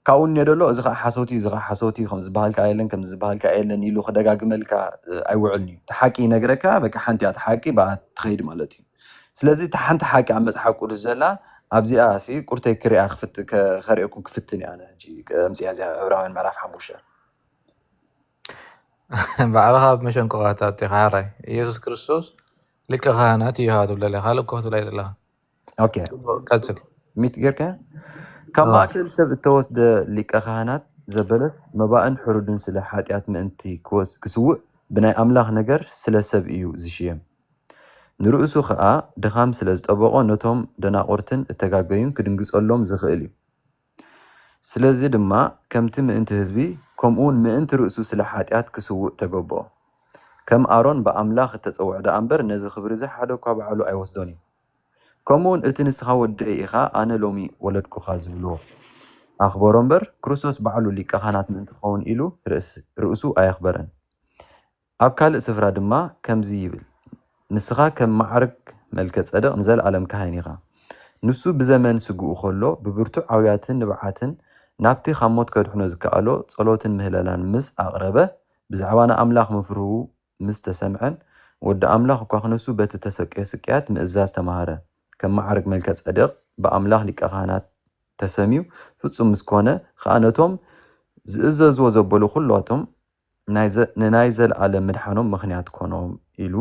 B: ካብኡ እኒኦ ደሎ እዚ ከዓ ሓሶት እዩ እዚ ከዓ ሓሶት እዩ ከም ዝበሃል ከዓ የለን ከም ዝበሃል ከዓ የለን ኢሉ ክደጋግመልካ ኣይውዕልን እዩ እቲ ሓቂ ይነግረካ በቃ ሓንቲ እያ እቲ ሓቂ ብኣ ትኸይድ ማለት እዩ ስለዚ እቲ ሓንቲ ሓቂ ኣብ መፅሓፍ ቅዱስ ዘላ ኣብዚኣ ሲ ቁርተይ ክሪኣ ክፍት ከሪኤኩም ክፍትን እያ ኣነ ሕጂ ኣምፅኣ እዚኣ ዕብራውያን ምዕራፍ ሓሙሽተ
C: ባዕልኻ ኣብ መሸንቆኻ ትኣቱ ኢኻ ሓራይ ኢየሱስ ክርስቶስ ሊቀ ካህናት እዩ ሃ ትብለለ ካልእ እኮ ክትብላይ ዘለኻ ኦኬ
B: ቀጽል
C: ሚት ጌርካ
B: ካብ ማእከል ሰብ እተወስደ ሊቀ ካህናት ዘበለስ መባእን ሕሩድን ስለ ሓጢኣት ምእንቲ ክስውእ ብናይ ኣምላኽ ነገር ስለ ሰብ እዩ ዝሽየም ንርእሱ ኸኣ ድኻም ስለ ዝጠበቖ ነቶም ደናቑርትን እተጋገዩን ክድንግጸሎም ዝኽእል እዩ ስለዚ ድማ ከምቲ ምእንቲ ህዝቢ ከምኡውን ምእንቲ ርእሱ ስለ ሓጢኣት ክስውእ ተገብኦ። ከም ኣሮን ብኣምላኽ እተጸውዐ ደኣ እምበር ነዚ ክብሪ እዚ ሓደ እኳ ባዕሉ ኣይወስዶን እዩ። ከምኡውን እቲ ንስኻ ወደይ ኢኻ ኣነ ሎሚ ወለድኩኻ ዝብልዎ ኣኽበሮ እምበር ክርስቶስ ባዕሉ ሊቀ ካህናት ምእንቲ ክኸውን ኢሉ ርእሱ ኣየኽበረን። ኣብ ካልእ ስፍራ ድማ ከምዚ ይብል፣ ንስኻ ከም መዓርግ መልከ-ጸደቅ ንዘለኣለም ካህን ኢኻ። ንሱ ብዘመን ስግኡ ከሎ ብብርቱዕ ኣውያትን ንብዓትን ናብቲ ካብ ሞት ከድሕኖ ዝከኣሎ ጸሎትን ምህለላን ምስ ኣቕረበ፣ ብዛዕባ ንኣምላኽ ምፍርሁ ምስ ተሰምዐን፣ ወዲ ኣምላኽ እኳ ክነሱ በቲ እተሰቅዮ ስቅያት ምእዛዝ ተማህረ። ከም መዓርግ መልከ-ጸደቅ ብኣምላኽ ሊቀ-ካህናት ተሰምዩ ፍጹም ምስ ኮነ ኸኣ ነቶም ዝእዘዝዎ ዘበሉ ኩሎቶም ንናይ ዘለኣለም ምድሓኖም ምኽንያት ኮኖም ኢሉ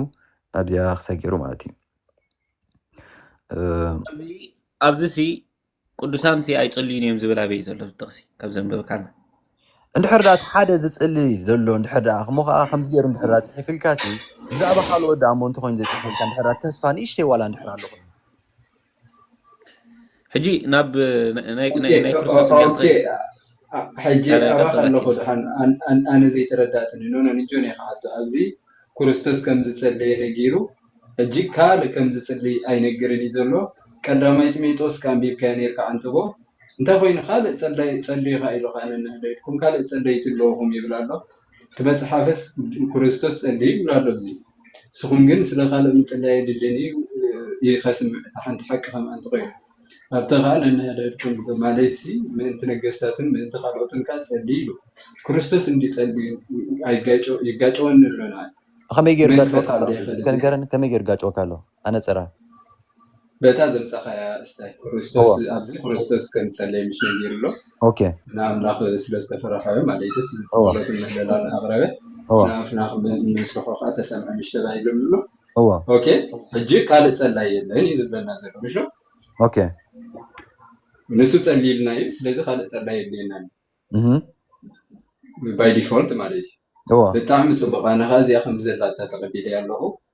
B: ኣብዚኣ ክሳይ ገይሩ ማለት እዩ። ኣብዚ ሲ
A: ቅዱሳን ሲ ኣይጽልዩን እዮም ዝብል ኣበይ እዩ ዘሎ እዚ ጥቕሲ ካብ ዘንበብካና? እንድሕር
B: ደኣ እቲ ሓደ ዝጽሊ ዘሎ እንድሕር ደኣ እሞ ከኣ ከምዚ ገይሩ እንድሕር ደኣ ጽሒፍልካሲ ብዛዕባ ካልኦት ደኣ እሞ እንተኾይኑ ዘይጽሕፍልካ እንድሕር ደኣ ተስፋ ንእሽተይ ዋላ እንድሕር ኣሎ ኮይኑ
A: ሕጂ ናብ ናይ ክርስቶስ ስቅያት ኸይድ
D: ሕጂ ኣባኻ ኣለኹ ድሓን ኣነ ዘይተረዳእትኒ ኖኖ ንጆን እየ ክሓቶ ኣብዚ ክርስቶስ ከም ዝጸለየ ነጊሩ ሕጂ ካልእ ከም ዝጽልይ ኣይነግርን እዩ ዘሎ ቀዳማይ ጢሞቴዎስ ከኣንቢብካዮ ነርካ ዓንተቦ እንታይ ኮይኑ ካልእ ጸላይ ጸልዩ ከኣ ኢሉ ከኣ ነንሕዶ ኢልኩም ካልእ ጸለይቲ ኣለኹም ይብል ኣሎ እቲ መጽሓፍስ ክርስቶስ ጸልዩ ይብል ኣሎ እዚ ንስኹም ግን ስለ ካልእ ምጽላይ የድልየኒ እዩ ኢልካ ስምዕ እታ ሓንቲ ሓቂ ከምኣ እንተ ኾይኑ ኣብታ ኸኣ ነንሕድሕድኩም ግበሩ ማለትሲ ምእንቲ ነገስታትን ምእንቲ ካልኦትን ከኣ ጸልዩ ኢሉ ክርስቶስ እንድዩ ጸልዩ ኣይጋጨወን ይጋጨወኒ ኣሎ ንኣይ ብኸመይ ገይሩ መን
B: ይጋጨወካ ኣሎ? ይፈልጥ እስከ ንገረኒ ከመይ ገይሩ ይጋጨወካ ኣሎ? ኣነጸራ።
D: በታ ዘምጻኻያ እስታይ ክርስቶስ ኣብዚ ክርስቶስ ከም ዝጸለየ ምስ ነጊሩ ኣሎ ንኣምላኽ ስለ ዝተፈረሖዮ ማለይትስ ጸሎትን ምህለላን ኣቕረበ ንኣፍና ምስርሖ ከኣ ተሰምዐ ምሽ ተባሂሉ ኣሎ ኦኬ ሕጂ ካልእ ጸላይ የለን እዩ ዝብለና ዘሎ ምሽ
B: ኦኬ
D: ንሱ ጸሊልና እዩ ስለዚ ካልእ ጸላይ የድልየና ባይ ዲፎልት ማለት እዩ ብጣዕሚ ጽቡቕ ኣነ ከኣ እዚኣ ከም ዘላታ ተቐቢለያ ኣለኹ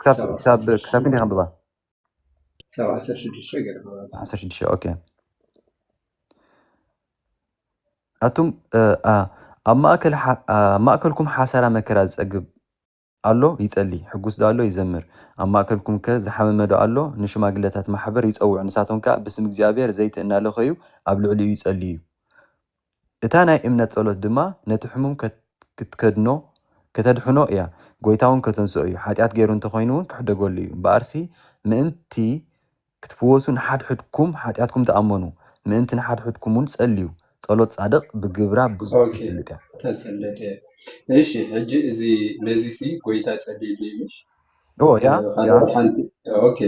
B: ክሳብ ክሳብ ክሳብ ክንደይ ከንብባ ክሳብ ዓሰርተ ሽዱሽተ ገለ ዓሰርተ ሽዱሽተ ኦኬ ኣቱም ኣብ ማእከል ኣብ ማእከልኩም ሓሳራ መከራ ዝጸግብ ኣሎ ይጸሊ ሕጉስ ዶ ኣሎ ይዘምር ኣብ ማእከልኩም ከ ዝሓመመ ዶ ኣሎ ንሽማግለታት ማሕበር ይጸውዕ ንሳቶም ከኣ ብስም እግዚኣብሔር ዘይቲ እናለኸዩ ኣብ ልዕሊኡ ይጸልዩ እታ ናይ እምነት ጸሎት ድማ ነቲ ሕሙም ክትከድኖ ከተድሕኖ እያ ጎይታውን ከተንስኦ እዩ ሓጢኣት ገይሩ እንተ ኾይኑውን ክሕደገሉ እዩ እምበኣርሲ ምእንቲ ክትፍወሱ ንሓድሕድኩም ሓጢኣትኩም ተኣመኑ ምእንቲ ንሓድሕድኩምውን ጸልዩ ጸሎት ጻድቕ ብግብራ ብዙሕ ተስልጥ እያ። ተስልጥ
D: እያ እሺ ሕጂ እዚ ነዚሲ ጎይታ ጸልዩሉ እዩ ምሽ ኦ ያ
B: ሓደ ያ ሓንቲ
D: ኦኬ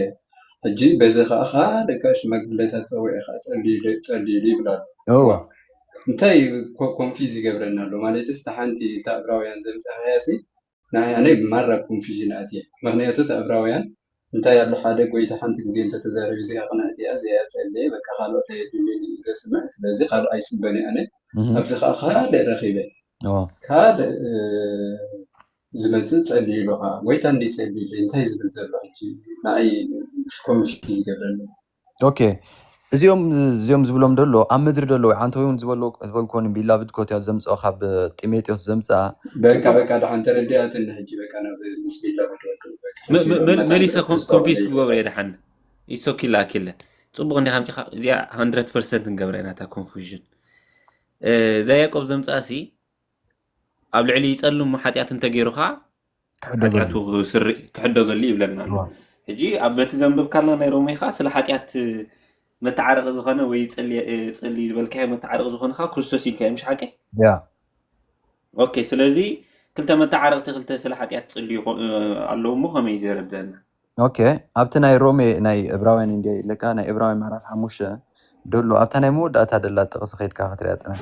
D: ሕጂ በዚ ከዓ ካልእ ከዓ ሽማግለታት ፀዊዑ ከዓ ፀልዩሉ ፀልዩሉ ይብል ኣሎ እወ እዋ እንታይ እዩ ኮ- ኮንፊዝ ይገብረና ኣሎ ማለትስ እታ ሓንቲ እታ እብራውያን ዘምፀኻያ ሲ ንዓይ ኣነ ማራ ኮንፊዥን ኣትየ ምክንያቱ እታ እብራውያን እንታይ ኣሎ ሓደ ጎይታ ሓንቲ ግዜ እንተተዛሪቡ እዚኣ ቅንዕቲ እያ እዚኣ እያ ፀለየ በቃ ካልኦት ኣየድልዩንን እዩ ዘስምዕ ስለዚ ካልእ ኣይፅበን እየ ኣነ እህ፣ ኣብዚ ከዓ ካልእ ረኪበ እወ ካልእ እ፣ ዝመጽእ ጸሊኡ ኢሉ ከኣ ጎይታ እንድዩ ጸሊኡለይ እንታይ ዝብል ዘሎ ሕጂ
B: ንኣይ ኮንፊዝ ይገብረኒ። ኦኬ እዚኦም እዚኦም ዝብሎም ደሎ ኣብ ምድሪ ደሎ ወይ ዓንተ ወይውን ዝበሎ ዝበልኮ ን ቢላቭድ ኮትያት ዘምጽኦ ካብ ጢሜጥዮስ ዘምጽኣ በቃ በቃ ድሓን ተረዲኣትኒ ሕጂ በቃ
D: ናብ ምስ ቢላቭድ ወዱ በቃ ሕጂ መ- መ- መታን
A: መሊሰ ኮ- ተስፋ ኮንፊስ ክገብሮ እየ ወደይበት ድሓን ኢሶ ኪላ ኪለ ፅቡቅ እንዲካ ኣምፂካ እዚኣ 100 ፐርሰንት ንገብረ ኢና እታ ኮንፉዥን እዛ ያዕቆብ ዘምፅኣ ሲ ኣብ ልዕሊ ጸልሙ ሓጢኣት እንተገይሩ ከኣ ሓጢኣቱ ክሕደገሉ ይብለና ኣሎ ሕጂ ኣብ በቲ ዘንበብካልና ናይ ሮሜ ከኣ ስለ ሓጢኣት መተዓረቂ ዝኾነ ወይ ጽሊ ዝበልካዮ መተዓረቂ ዝኾነ ከኣ ክርስቶስ ኢልካዮ ምሽ ሓቂ ኦኬ ስለዚ ክልተ መተዓረቅቲ ክልተ ስለ ሓጢኣት ጽሊ ኣለዉ እሞ ከመይ ዘረድአና ኦኬ
B: ኣብቲ ናይ ሮሜ ናይ እብራውያን እንዲ ኢለካ ናይ እብራውያን ምዕራፍ ሓሙሽተ ደሎ ኣብታ ናይ መወዳእታ ደላ ጥቕሲ ከድካ ክትሪያ ጽናሕ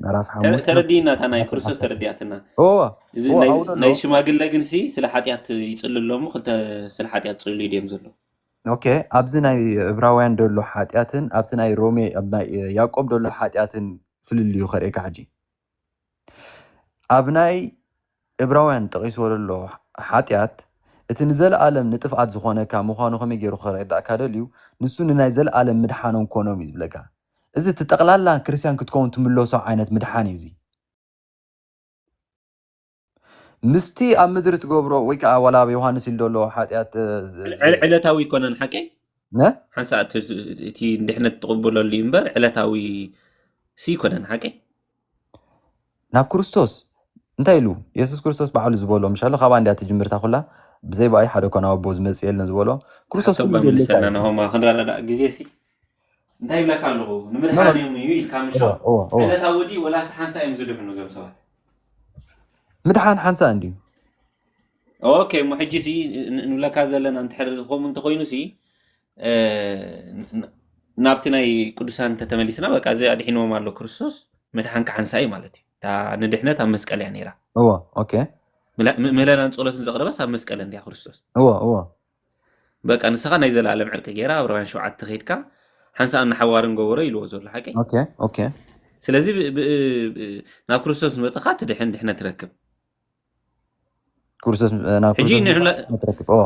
B: ምዕራፍ ሓሙሽተ ተረዲእና እታ ናይ ቁጥሪ ክርስቶስ
A: ዓሰርተ። ተረዲኣትና እወ እዚ እወ ናይ ኣብኡ ዘሎ ናይ ሽማግለ ግን ሲ ስለ ሓጢኣት ይጽሉ ኣሎ እሞ ክልተ ስለ ሓጢኣት ጽሉ ድዮም ዘሎ ኦኬ ኣብዚ
B: ናይ እብራውያን ዘሎ ሓጢኣትን ኣብቲ ናይ ሮሜ ኣብ ናይ ያዕቆብ ዘሎ ሓጢኣትን ፍልልዩ ከርእየካ ሕጂ ኣብ ናይ እብራውያን ጠቒስዎ ዘሎ ሓጢኣት፣ እቲ ንዘለኣለም ንጥፍኣት ዚዀነካ ምዃኑ ኸመይ ገይሩ ኼረድኣካ ደልዩ? ንሱ ንናይ ዘለኣለም ምድሓኖም ኰኖም እዩ ዚብለካ። እዚ እቲ ጠቕላላ ክርስትያን ክትከውን ትምለሶ ዓይነት ምድሓን እዩ እዚ። ምስቲ ኣብ ምድሪ ትገብሮ ወይ ከኣ ዋላ ኣብ ዮሃንስ ኢሉ ዘሎ ሓጢኣት ዝ። ዕለታዊ
A: ኣይኮነን ሓቀይ ን። ሓንሳእ
B: እቲ
A: ንድሕነት ትቕበለሉ እዩ እምበር ዕለታዊ ሲ ኣይኮነን ሓቀይ።
B: ናብ ክርስቶስ እንታይ ኢሉ የሱስ ክርስቶስ ባዕሉ ዝበሎ ምሻሎ ካብኣ እንዲያ ትጅምርታ ኩላ ብዘይ ብኣይ ሓደ ኮና ኣቦ ዝመጽእ የለን ዝበሎ ክርስቶስ ኩሉ ዘለካ ናሆማ ክንረዳዳእ
A: ግዜ ሲ እንታይ ይብለካ ኣለኹ ንምድሓን እዮም እዩ ኢልካ ምሽ ዕለታ ወዲ ወላስ ሓንሳ እዮም ዝድሕኑ እዞም ሰባት
B: ምድሓን ሓንሳ እንድዩ
A: ኦኬ እሞ ሕጂ ሲ ንብለካ ዘለና እንድሕር ዝኾም እንተኾይኑ ሲ ናብቲ ናይ ቅዱሳን እንተተመሊስና በቃ እዚ ኣድሒንዎም ኣሎ ክርስቶስ ምድሓን ክሓንሳ እዩ ማለት እዩ እታ ንድሕነት ኣብ መስቀል እያ ነይራ እዎ ኦኬ
B: ምህለላን
A: ጸሎትን ዘቕረበስ ኣብ መስቀል እንድያ ክርስቶስ እዎ እዎ በቃ ንስኻ ናይ ዘለኣለም ዕርቂ ገይራ ኣብ ረውያን ሸውዓተ ከይድካ ሓንሳእን ንሓዋርን ገበሮ ኢልዎ ዘሎ ሓቂ ኦኬ ኦኬ
B: ስለዚ ብ- ብ-
A: ብ- ናብ ክርስቶስ ንበፅኻ ትድሕን ድሕነት ትረክብ
B: ክርስቶስ ናብ ሕጂ ክርስቶስ ንዕላ- ምእንቲ ክትረክብ እዎ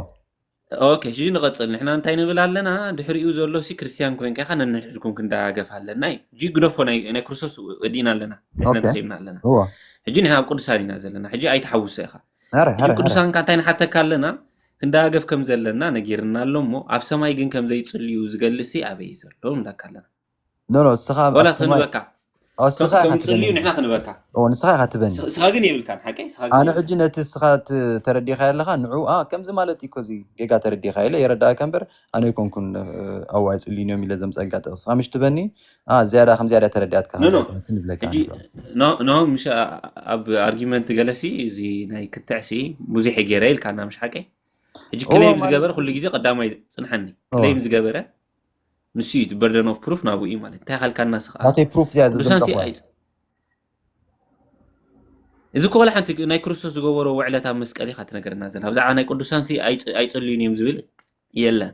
B: ኦኬ
A: ሽጂ ንቐጽል ንሕና እንታይ ንብል ኣለና ድሕሪኡ ዘሎሲ ክርስትያን ኮንካ ኢኻ ነንሕዝኩም ክንደጋገፍ ኣለና እዩ ሕጂ ግደፎ ናይ ናይ ክርስቶስ ወዲእና ኣለና ድሕነት ኦኬ ረኺብና ኣለና እወ ሕጂ ንሕና ኣብ ቅዱሳን ኢና ዘለና ሕጂ ኣይትሓውሶ ኢኻ ሀረ ሕጂ ሀረ ሀረ ቅዱሳን ከ እንታይ ንሓተካ ኣለና ክንደጋገፍ ከም ዘለና ነጊርና ኣሎ እሞ ኣብ ሰማይ ግን ከም ዘይጽልዩ ዝገልጽሲ ኣበይ እዩ ዘሎ ንብለካ ኣለና ኖኖ እስኻ
B: ኣብ ዋላ ሰማይ ክንበካ
A: ኦ፣ ከም እስኻ ኢኻ ከም ዝጽልዩ ትበኒ ንሕና ክንበካ ኦ፣ ንስኻ ኢኻ ትበኒ ንስ-
B: ንስኻ ግን የብልካን ሓቀይ
A: ንስኻ ግን ኣነ ሕጂ የብልካን ነቲ እስኻ
B: ት ተረዲኻዮ ኣለኻ ንዑ ኣ ከምዚ ማለት እዩ እኮ እዚ ጌጋ ተረዲኻዮ ኢለ የረድኣካ እምበር ኣነ ኣይኮንኩን እ፣ ኣዋይ ኣይጽልዩን እዮም ኢለ ዘምጸኣልካ ጥቕሲ እስኻ ምሽ ትበኒ ኣ ዝያዳ ከም ዝያዳ ተረዲኣትካ ከም ኖኖ ዘይኮነትን ይብለካ ሕጂ ኣነ
A: ብ ኖ- ኖ ምሽ ኣ- ኣ- ኣብ ኣርጊመንት ገለሲ እዚ ናይ ክትዕሲ ብዙሕ እየ ገይረ ኢልካና ምሽ ሓቀይ ሕጂ እወ ክለይም ማለት ዝገበረ ሲ ኩሉ ግዜ ቀዳማይ እዩ ጽንሓኒ ኦወ ክለይም ዝገበረ ንሱ እዩ በርደን ኦፍ ፕሩፍ ናብኡ እዩ ማለት እንታይ ካልካና ስኻ ናተይ ፕሩፍ እዚኣ ቅዱሳን
B: ሲ
A: ኣይ እዚ ኮላ ሓንቲ ናይ ክርስቶስ ዝገበሮ ውዕለት ኣብ መስቀል ኢኻ ትነገረና ዘላ ብዛዕባ ናይ ቅዱሳን ሲ ኣይጽልዩን እዮም ዝብል የለን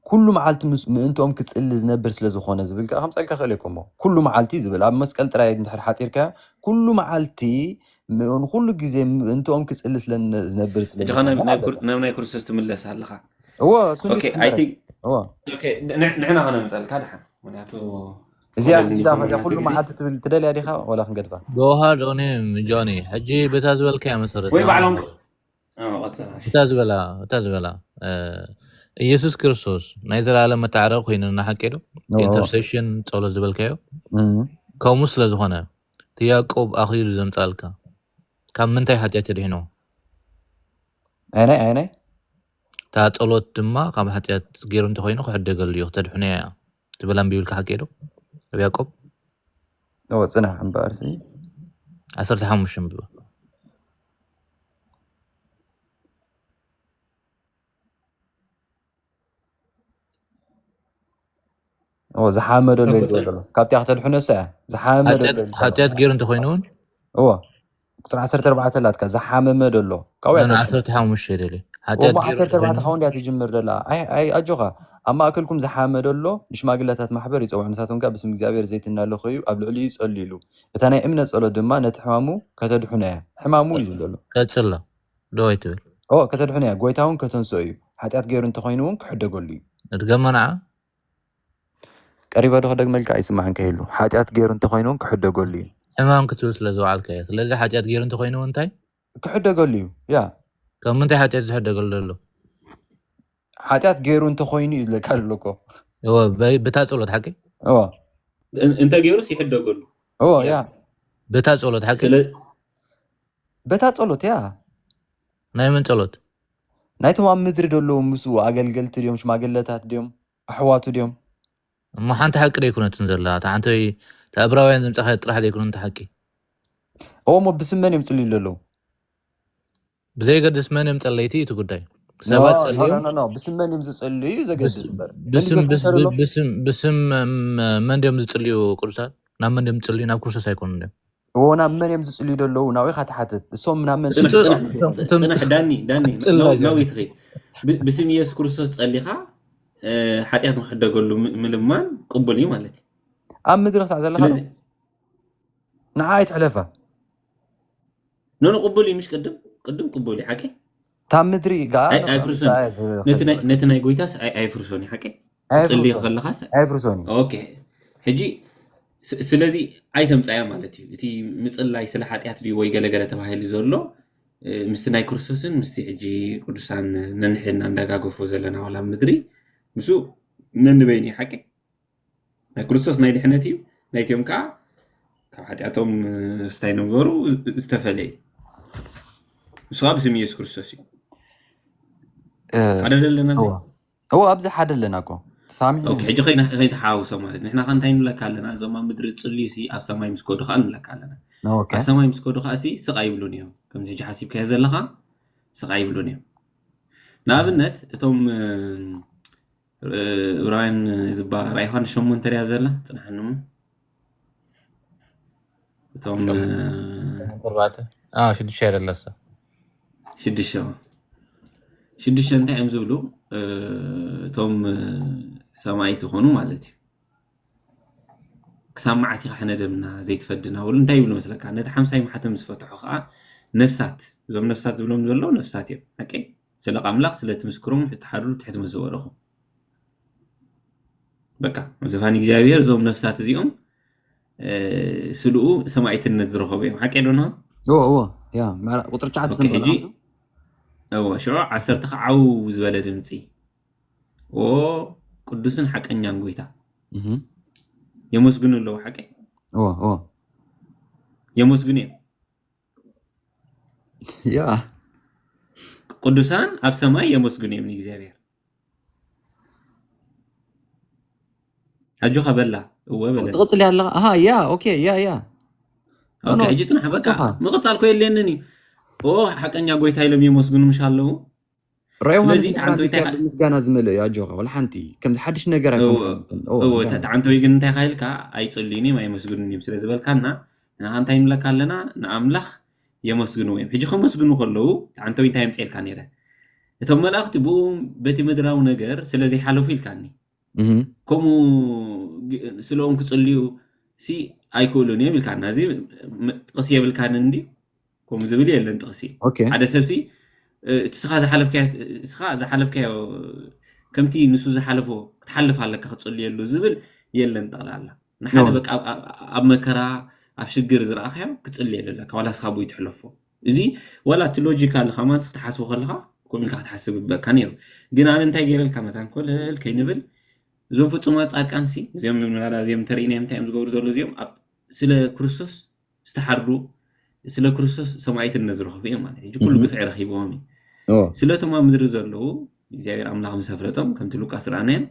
B: ኩሉ መዓልቲ ምእንትኦም ክጽሊ ዝነብር ስለ ዝኾነ ዝብል ከዓ ከምፀልካ ክእል ኮሞ ኩሉ መዓልቲ ዝብል ኣብ መስቀል ጥራይ እንድሕር ሓፂርካዮ ኩሉ መዓልቲ ንኩሉ ግዜ ምእንትኦም ክጽሊ ስለ ዝነብር ስለ ናብ ናይ
A: ክርስቶስ ትምለስ ኣለኻ እዎ ሱኒ ኦኬ ኣይ ክሕመረት ቲንክ እዎ ኦኬ ን- ንሕና ከነምፀልካ ድሓን ምክንያቱ እዚኣ ወለዲ ንግዳ ዝኾኑ ከዚኣ
B: ናይቲ ኩሉ ግዜ መዓልቲ ትብል ትደልያ ዲኻ ወላ ክንገድፋ ጆሃር ዶኒ
C: ጆኒ ሕጂ በታ ዝበልካያ መሰረት ወይ ንኣምን ባዕሎም ኣለኹ እ፣
A: ቐፅል እሺ እታ ዝበላ
C: እታ ዝበላ እ፣ ኢየሱስ ክርስቶስ ናይ ዘላለም መታዕረቂ ኮይኑ ንሓቂ ዶ እቲ እዎ ኢንተርሴሽን ጸሎት ዝበልካዮ እም። ከምኡ ስለ ዝኾነ እቲ ያዕቆብ ኣኽሊሉ ዘምጻልካ ካብ ምንታይ ሓጢኣት የድሕኖ ኣየናይ
B: ኣየናይ? እታ
C: ጸሎት ድማ ካብ ሓጢኣት ገይሩ እንተ ዀይኑ ኽሕደገሉ እዩ፣ ኽተድሕኖ እያ ትብል ኣንቢብልካ ሓቂ ዶ? ኣብ ያእቆብ።
B: እወ ጽናሕ እምበኣርሲ። ዓሰርተ
C: ሓሙሽተ ኣንብባ።
B: ዝሓመዶ ሎ ዘሎ ካብቲኣ ክተድሕኖ ሰ ሓጢኣት ገይሩ
C: እንተኮይኑ እውን እዎ
B: ቁፅሪ ዓሰርተ ኣርባዕተ ኣላትካ ዝሓመመ ደሎ ካብኡ እያ ተድሕኖ ዓሰርተ ሓሙሽተ
C: ደልየ ሓጢኣት ወሞ ገይሩ ዓሰርተ ኣርባዕተ እንተኮይኑ
B: ካብ እንድያ ትጅምር ደላ ኣይ ኣይ ኣጆኻ ኣብ ማእከልኩም ዝሓመ ደሎ ንሽማግለታት ማሕበር ይጸውዕ ንሳቶም ከኣ ብስም እግዚኣብሔር ዘይቲ እናለከዩ ኣብ ልዕሊኡ ይጸልዩሉ እታ ናይ እምነት ጸሎት ድማ ነቲ ሕማሙ ከተድሕኖ እያ ሕማሙ እዩ ዘሎ ቀጽሎ
C: ዶ ኣይትብል። እወ ከተድሕኖ እያ
B: ጎይታ ውን ከተንስኦ እዩ ሓጢኣት ገይሩ እንተ ኾይኑ ውን ክሕደገሉ እዩ። እድገሞ ንዓ። ቀሪበ ዶ ክደግመልካ ኣይስማዕን ከይህሉ ሓጢኣት ገይሩ እንተ ኾይኑ ውን ክሕደገሉ እዩ። ሕማም ክትብል ስለ
C: ዝወዓልካ እየ። ስለዚ ሓጢኣት ገይሩ እንተ ኾይኑ ውን እንታይ። ክሕደገሉ እዩ።
B: ያ። ካብ ምንታይ ሓጢኣት
C: ዝሕደገሉ ዘሎ።
B: ሓጢኣት ገይሩ እንተ ኾይኑ እዩ ዝለካ ዘሎ እኮ። እወ
C: ብታ ጸሎት ሓቂ። እወ።
A: እንተ ገይሩስ ይሕደገሉ። እወ። ያ።
B: ብታ ጸሎት
C: ሓቂ። በታ ጸሎት
B: እያ። ናይ መን
C: ጸሎት? ናይቶም ኣብ
B: ምድሪ ደለዉ ምስኡ ኣገልገልቲ ድዮም ሽማግለታት ድዮም ኣሕዋቱ ድዮም? እሞ ሓንቲ
C: ሓቂ ደይኮነትን ዘላ እታ ሓንቲ ወይ እታ እብራውያን ዘምጻኻያ ጥራሕ ዘይኮነት እታ ሓቂ? እወ
B: እሞ ብስም መን እዮም ዝጽልዩ ደለዉ?
C: ብዘየገድስ መን እዮም ጸለይቲ እዩ እቲ ጉዳይ። ሰባት ኖ ኖ ጸልዮም ኖ ኖ ብስም መን እዮም
B: ዝጽልዩ እዩ ዘገድስ እምበር። መሊሰኩም
C: ሰዱሎም። ብስም ብስም ብስም መን ድዮም ዝጽልዩ ቅዱሳን? ናብ መን ድዮም ዝጽልዩ ናብ ክርስቶስ ኣይኮኑን ድዮም? እዎ ናብ መን እዮም
B: ዝጽልዩ ዘለዉ ናብኡ ኢኻ ትሓትት እሶም ናብ መን ጽንሕ
A: ዳኒ ዳኒ ናዊት ኸ ብስም ኢየሱስ ክርስቶስ ጸሊኻ ሓጢኣት ንክሕደገሉ ምልማን ቅቡል እዩ ማለት እዩ ኣብ ምድሪ ክሳዕ
B: ዘለኻ ንዓ ኣይትሕለፋ
A: ኖ ቅቡል እዩ ምሽ ቅድም ቅድም ቅቡል እዩ ሓቂ እታ ምድሪ
B: ጋር ኣይ- ኣይፍርሶን እዩ። ነቲ
A: ናይ- ኣይፍርሶን ነቲ ናይ ጎይታስ ኣይ- ኣይፍርሶን እዩ ሓቀይ ትጽልዮ
B: እዩ
A: ከለኻስ ኣይፍርሶን እዩ ኦኬ
B: ሕጂ
A: ስ- ስለዚ ኣይተምጻያ ማለት እዩ እቲ ምጽላይ ስለ ሓጢኣት ድዩ ወይ ገለገለ ተባሂሉ ዘሎ እ፣ ምስቲ ናይ ክርስቶስን ምስቲ ሕጂ ቅዱሳን ነንሕድና እንዳጋገፎ ዘለና ዋላ ኣብ ምድሪ ምስ ነንበይኑ እዩ ሓቂ ናይ ክርስቶስ ናይ ድሕነት እዩ ናይትዮም ከዓ ካብ ሓጢኣቶም ስታይ ነበሩ ዝተፈለ እዩ ንሱ ከዓ ብስም ኢየሱስ ክርስቶስ እዩ ሓደ ዘለና እዎ ኣብዚ
B: ሓደ ኣለና እኮ ሕጂ ከይተሓዋውሶ
A: ማለት ንሕና ከ እንታይ ንብለካ ኣለና እዞም ኣብ ምድሪ ዝፅልዩ ሲ ኣብ ሰማይ ምስ ከዱ ከዓ ንብለካ ኣለና ኣብ ሰማይ ምስ
B: ከዱ ከዓ
A: ስቃ ይብሉን እዮም ከምዚ ሕጂ ሓሲብካዮ ዘለካ ስቃ ይብሉን እዮም ንኣብነት እቶም እብራውያን ዝበሃል ራእይ ዮሃንስ ሸሞንተ እያ ዘላ ፅናሕኒ እሞ እቶም
C: ተባዕተ አ ሽዱሽተ ደለሰ ሽዱሽተ
A: ሽዱሽተ እንታይ እዮም ዝብሉ እ፣ እቶም እ፣ ሰማይ ዝኾኑ ማለት እዩ ክሳብ መዓስ ኢኻ ሕነ ደምና ዘይትፈድና በሉ እንታይ ይብሉ መስለካ ነቲ ሓምሳይ ማሕተም ዝፈትሑ ከዓ ነፍሳት እዞም ነፍሳት ዝብሎም ዘሎ ነፍሳት እዮም ሓቀይ ስለ ኣምላኽ ስለ እቲ ምስክሮም ውሕጅ ተሓርሩ ትሕቲ ምስ ዝበልኹ በቃ ዝፋን እግዚኣብሔር እዞም ነፍሳት እዚኦም ስልኡ ሰማይትነት ዝረኸቡ እዮም ሓቂ ዶ ንሆ እዎ እዎ ያ
B: ምዕራ- ቁጥሪ ትሽዓተ ኦኬ ሕጂ ተንብበላ
A: እዎ ሽዑ ዓሰርተ ከዓው ዝበለ ድምፂ ኦ ቅዱስን ሓቀኛን ጎይታ የመስግኑ ኣለዉ ሓቂ እዎ እዎ የመስግኑ እዮም
B: ያ
A: ቅዱሳን ኣብ ሰማይ የመስግኑ እዮም ንእግዚኣብሔር ኣጆኻ በላ እወ በለ ትቕፅል ኣለኻ ኣሃ ያ
B: ኦኬ ያ ያ
A: ኦኬ ሕጂ ፅናሕ በቃ ምቕፃል ኮ የለንን እዩ ኦ ሓቀኛ ጎይታ ኢሎም የመስግኑ ምሽ ኣለዉ ራእይ
B: ዮሃንስ ምስጋና ዝመልኦ እዩ ኣጆካ ወላ ሓንቲ ከምዚ ሓድሽ ነገር ኣይኮነንእወተጣዓንተወይ
A: ግን እንታይ ካይልካ ኣይፅልዩን እዮም ኣይመስግኑን እዮም ስለ ዝበልካና ንካ እንታይ ንብለካ ኣለና ንኣምላኽ የመስግንዎ እዮም ሕጂ ከመስግኑ ከለዉ ጣዓንተወይ እንታይ የምፅኤልካ ነይረ እቶም መላእኽቲ ብኡ በቲ ምድራዊ ነገር ስለ ዘይሓለፉ ኢልካኒ ከምኡ ስለኦም ክፅልዩ ሲ ኣይክእሉን እዮም ኢልካና እዚ ጥቕሲ የብልካን እንዲ ከምኡ ዝብል የለን ጥቕሲ ሓደ ሰብሲ እቲ ስኻ ዝሓለፍካዮ ስኻ ዝሓለፍካዮ ከምቲ ንሱ ዝሓለፎ ክትሓልፍ ኣለካ ክጽልየሉ ዝብል የለን ጠቕላላ ንሓደ በቃ ኣብ መከራ ኣብ ሽግር ዝረኣኻዮ ክጽልየሉ ኣለካ ዋላ ስኻ ቦይ ትሕለፎ እዚ ዋላ እቲ ሎጂካል ከማንስ ክትሓስቦ ከለኻ ከምኡ ኢልካ ክትሓስብ ይግበካ ነይሩ ግን ኣነ እንታይ ገይረልካ መታን ኮለል ከይንብል እዞም ፍጹማት ጻድቃንሲ እዚኦም ንብላዳ እዚኦም እንተርኢናዮም እንታይ እዮም ዝገብሩ ዘሎ እዚኦም ኣብ ስለ ክርስቶስ ዝተሓርዱ ስለ ክርስቶስ ሰማይትነት ዝረኸቡ እዮም ማለት እዩ ኩሉ ግፍዒ ረኺቦም እዩ ስለቶም ኣብ ምድሪ ዘለዉ እግዚኣብሔር ኣምላኽ ምስ ኣፍለጦም ከምቲ ሉቃስ ረኣናዮም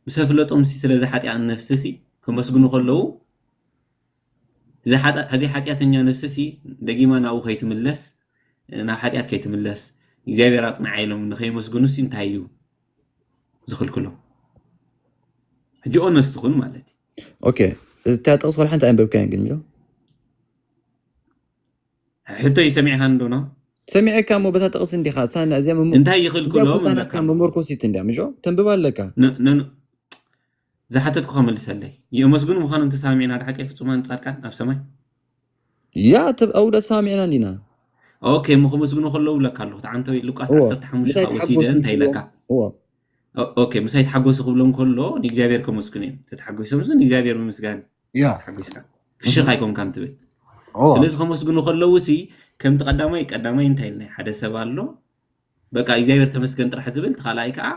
A: ምስ ኣፍለጦም ስለዚ ሓጢኣን ነፍሲ ሲ ከመስግኑ ከለዉ እዚ ሓጢኣተኛ ነፍሲ ሲ ደጊማ ናብኡ ከይትምለስ ናብ ሓጢኣት ከይትምለስ እግዚኣብሔር ኣፅንዓ ኢሎም ንከይመስግኑ ሲ እንታይ እዩ ዝኽልክሎም ሕጂ ኦነስት ኩን ማለት እዩ ኦኬ
B: እታ ጥቕስ ወላ ሓንቲ ኣይንበብካያን ግን ሚሎ
A: ሕቶይ ሰሚዕኻን ዶ ነው? ሰሚዐካ እሞ
B: በታ ጥቕስ እንዲኻ ሳና እዚያ መሞ እንታይ እዚኣ ይኽልክሎም ቦታ
A: ናትካ እምበካ መመርኮሲት
B: እንዲያ ምሾ ተንብባ ኣለካ ን- ን-
A: ዝሓተትኩኻ መልሰለይ የመስግኑ ምዃኖም ተሰማሚዕና ድሓቀይ ፍጹማን ጻድቃን ኣብ ሰማይ
B: ያእ ትብ ኣውደት ሳሚዕና እንዲና። ኦኬ እሞ
A: ከመስግኑ ከለዉ ኢለካ ኣለኹ እቲ ዓንተበይ ሉቃስ እዎ ዓሰርተ ሓሙሽተ ምሳይ ካብኡ ወሲደ ተሓጎሱ እንታይ ምስብሎም ኢለካ
B: እዎ ኦኬ
A: ምሳይ ተሓጎሱ ክብሎም ከሎ ንእግዚኣብሔር ከመስግኑ እዮም ተተሓጎሶምስ ንእግዚኣብሔር ምምስጋን እዩ ያእ ተሓጒስካ
B: ፍሽኽ
A: እህ ኣይኮንካን ትብል እዎ ስለዚ ከመስግኑ ከለዉ ሲ ከምቲ ቀዳማይ ቀዳማይ እንታይ ኢልና ሓደ ሰብ ኣሎ በቃ ኢግዚኣብሄር ተመስገን ጥራሕ ዝብል እቲ ካልኣይ ከኣ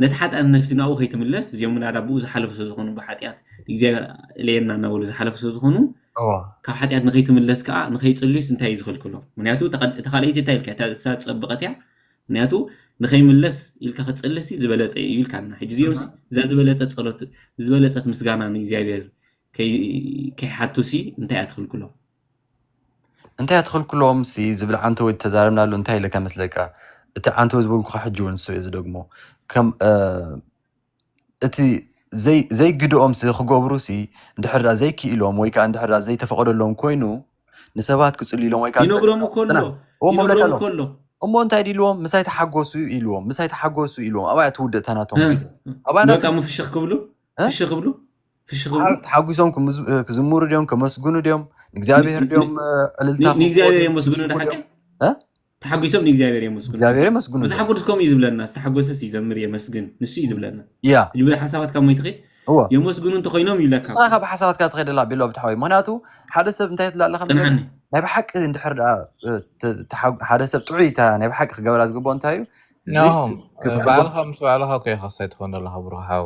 A: ነቲ ሓጥኣን ነፍሲ ናብኡ ከይትምለስ እዚኦም ምናዳ ብኡ ዝሓለፉ ስለዝኾኑ ብሓጥያት ኢግዚኣብሄር እለየና እናበሉ ዝሓለፉ ስለዝኾኑ እወ ካብ ሓጢኣት ንኸይትምለስ ከኣ ንኸይጽልዩስ እንታይ እዩ ዝኽልክሎ ምክንያቱ እታ ቀድ- እታ ካልኣይቲ እንታይ ኢልካ እታ እሳ ዝጸበቐት እያ ምክንያቱ ንኸይምለስ ኢልካ ክትጽሊ ሲ ዝበለጸ እዩ ኢልካና ሕጂ እዚኦም ሲ እዛ ዝበለጸት ጸሎት ዝበለጸት ምስጋና ንእግዚኣብሄር ከይ- ከይሓቱ ሲ እንታይ እያ ትኽልክሎም
B: እንታይ ኣትኽልክሎምሲ ዝብል ዓንተቦይ ተተዛረብናሉ እንታይ ኢለካ መስለካ እቲ ዓንተቦይ ዝበልኩኻ ሕጂ እውን ንሱ እየ ዝደግሞ ከም እቲ ዘይግድኦምሲ ክገብሩሲ እንድሕር ደኣ ዘይክኢሎም ወይ ከዓ እንድሕር ደኣ ዘይተፈቐደሎም ኮይኑ ንሰባት ክጽሉ ኢሎም ወይ ከዓ ይነግሮም እኮ ኣሎ ይነግሮም
A: እኮ ኣሎ እሞ እንታይ
B: ኢልዎም ምሳይ ተሓጎሱ ኢልዎም ምሳይ ተሓጎሱ ኢልዎም ኣብያ ትውድእ እታ ናቶም ቪድዮ ኣብያ
A: ናቶም ፍሽኽ ክብሉ ፍሽኽ ክብሉ ፍሽኽ ይብሉ ተሓጒሶም
B: ክዝምሩ ድዮም ከመስግኑ ድዮም ንእግዚኣብሔር ድዮም ዕልልታ ንእግዚኣብሔር የመስግኑ
A: ድሓቂ ተሓጒሶም ንእግዚኣብሔር የመስግኑ እግዚኣብሔር የመስግኑ መጽሓፍ ቅዱስ ከምኡ እዩ ዝብለና ዝተሓጎሰስ ይዘምር የመስግን
B: ንሱ
A: እዩ ዝብለና ያ ልቢ ሓሳባት ካብ ሞይትኺ እዎ የመስግኑ እንተኮይኖም ይብለካ ንስኻ ካብ ሓሳባትካ ትኸደላ
B: ቢሎ ብታሓወይ ምክንያቱ ሓደ ሰብ እንታይ ትብላ ኣለካ መሰለካ? ጽንሓኒ ናይ ብሓቂ
A: እንድሕር
B: ደኣ እ፣ ተ- ተሓ- ሓደ ሰብ ጥዑይ እታ ናይ ብሓቂ ክገብራ ዝግብኦ እንታይ እዩ ናሆም
C: ባዕልኻ ምስ ባዕልኻ ኮይኻ ሳይ ትኾን ዘለኻ ብሩኽ ሓው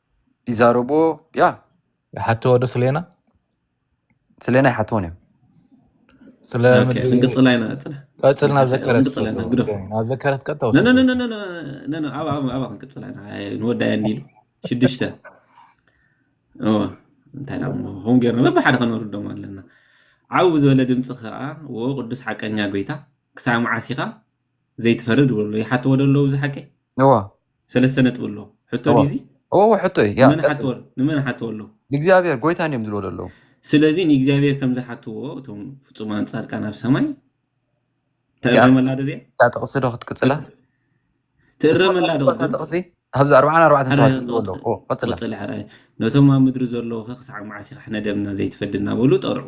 C: ይዛረብዎ
B: ያ ይሓትዎ ዶ
C: ስሌና ስለና ይሓትዎን እዮም ስለ ኦኬ፣ ምድሪ ክንቅጽላ ኢና
A: ጥረ ቀጽል ናብ እንተ-
C: ዘከረት ክንቅጽል ኢና፣ ግደፎ። ቀጽል ናብ ዘከረት
A: ቀጥታ ነ- ነ- ነ- ወስደት ነ- ነ- ነ- ነ- ነ፣ ኣብ ኣብ- ኣብኣ ክንቅጽላ ኢና ኣይ፣ ንወዳያ እንዲሉ ሽዱሽተ እወ እንታይ ዳ እሞ ከምኡ ጌርና በብሓደ ከነርዶም ኣለና ዓው ብዝበለ ድምፂ ከዓ ወ ቅዱስ ሓቀኛ ጎይታ ክሳብ መዓስ ኢኻ ዘይትፈርድ እብሎ ኣለዉ ይሓትዎ ዶ ኣለዉ እዚ ሓቂ እዎ ሰለስተ ነጥቢ ኣሎ ሕቶ እዎ ድዩ እዚ እዎ እዎ ሕቶ እዩ ያ ንመን
B: ቀጽል ሓትዎ ንመን ሓትዎ
A: ኣለዉ ንእግዚኣብሔር ጎይታ እንዲዮም
B: ዝብልዎ ዘለዉ ስለዚ ንእግዚኣብሔር
A: ከም ዝሓትዎ እቶም ፍጹማን ጻድቃን ኣብ ሰማይ እቲኣ ትእረመላ ዶ እዚኣ እታ ጥቕሲ ዶ ክትቅጽላ
B: ቀጽል ንስኻ
A: ትእረመላ ዶ ትፈልጥዋ እታ ቅድም ጥቕሲ ኣብዚ
B: ኣርብዓን ኣርባዕተን ሰባት ሕራይ ዝብልዎ ኣለዉ ንቕጽል እዎ ቀጽላ ንቕጽል ሕራይ ነቶም
A: ኣብ ምድሪ ዘለዉ ኸ ክሳዕ መዓስ ኢኻ ሕነ ደምና ዘይትፈዲ እናበሉ ጠርዑ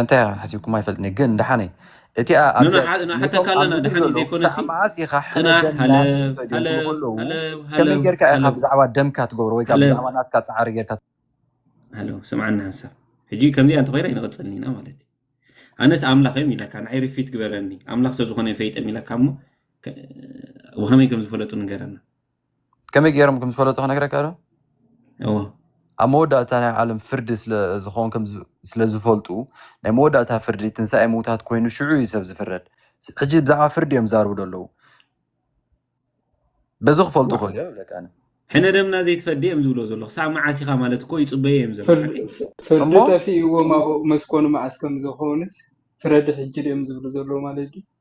B: እንታይ ሓሲብኩም ኣይፈልጥኒ ግን ደሓነይ እቲኣ ንሓተካ
A: ኣለና ድሓን ዘይኮነሲ መዓዝ ኢኻ ሕነ ደም
B: ናትከለዉ ከመይ ጌርካ ኢኻ ብዛዕባ ደምካ ትገብሮ ወይ ከዓ ብዛዕባ ናትካ ፃዕሪ ጌርካ ሃሎ
A: ስምዓና ሓንሳብ ሕጂ ከምዚኣ እንተኮይና ይንቐፅል ኢና ማለት እዩ ኣነስ ኣምላኽ እዮም ኢለካ ንዓይ ርፊት ግበረኒ ኣምላኽ ሰብ ዝኾነ ፈይጠም ኢለካ እሞ ብኸመይ ከም ዝፈለጡ ንገረና ከመይ
B: ገይሮም ከም ዝፈለጡ ክነግረካ ዶ? እወ። ኣብ መወዳእታ ናይ ዓለም ፍርዲ ስለ ዝኸውን ከም ስለ ዝፈልጡ ናይ መወዳእታ ፍርዲ ትንሳኤ ምውታት ኮይኑ ሽዑ እዩ ሰብ ዝፍረድ። ሕጂ ብዛዕባ ፍርዲ እዮም ዝዛረቡ ዘለዉ። በዚ ክፈልጡ ይኽእሉ እዮም ይብለካ ኣነ። ሕነ ደምና
A: ዘይትፈዲ እዮም ዝብልዎ ዘለዉ። ክሳዕ መዓስ ኢኻ ማለት እኮ ይጽበዩ እዮም ዘለዉ። ሓቀይ ድዩ? ፍርዲ
D: ጠፊእዎም ኣብኡ ምስ ኮኑ መዓስ ከም ዝኾኑስ ፍረድ ሕጂ ድዮም ዝብሉ ዘለዉ ማለት ድዩ?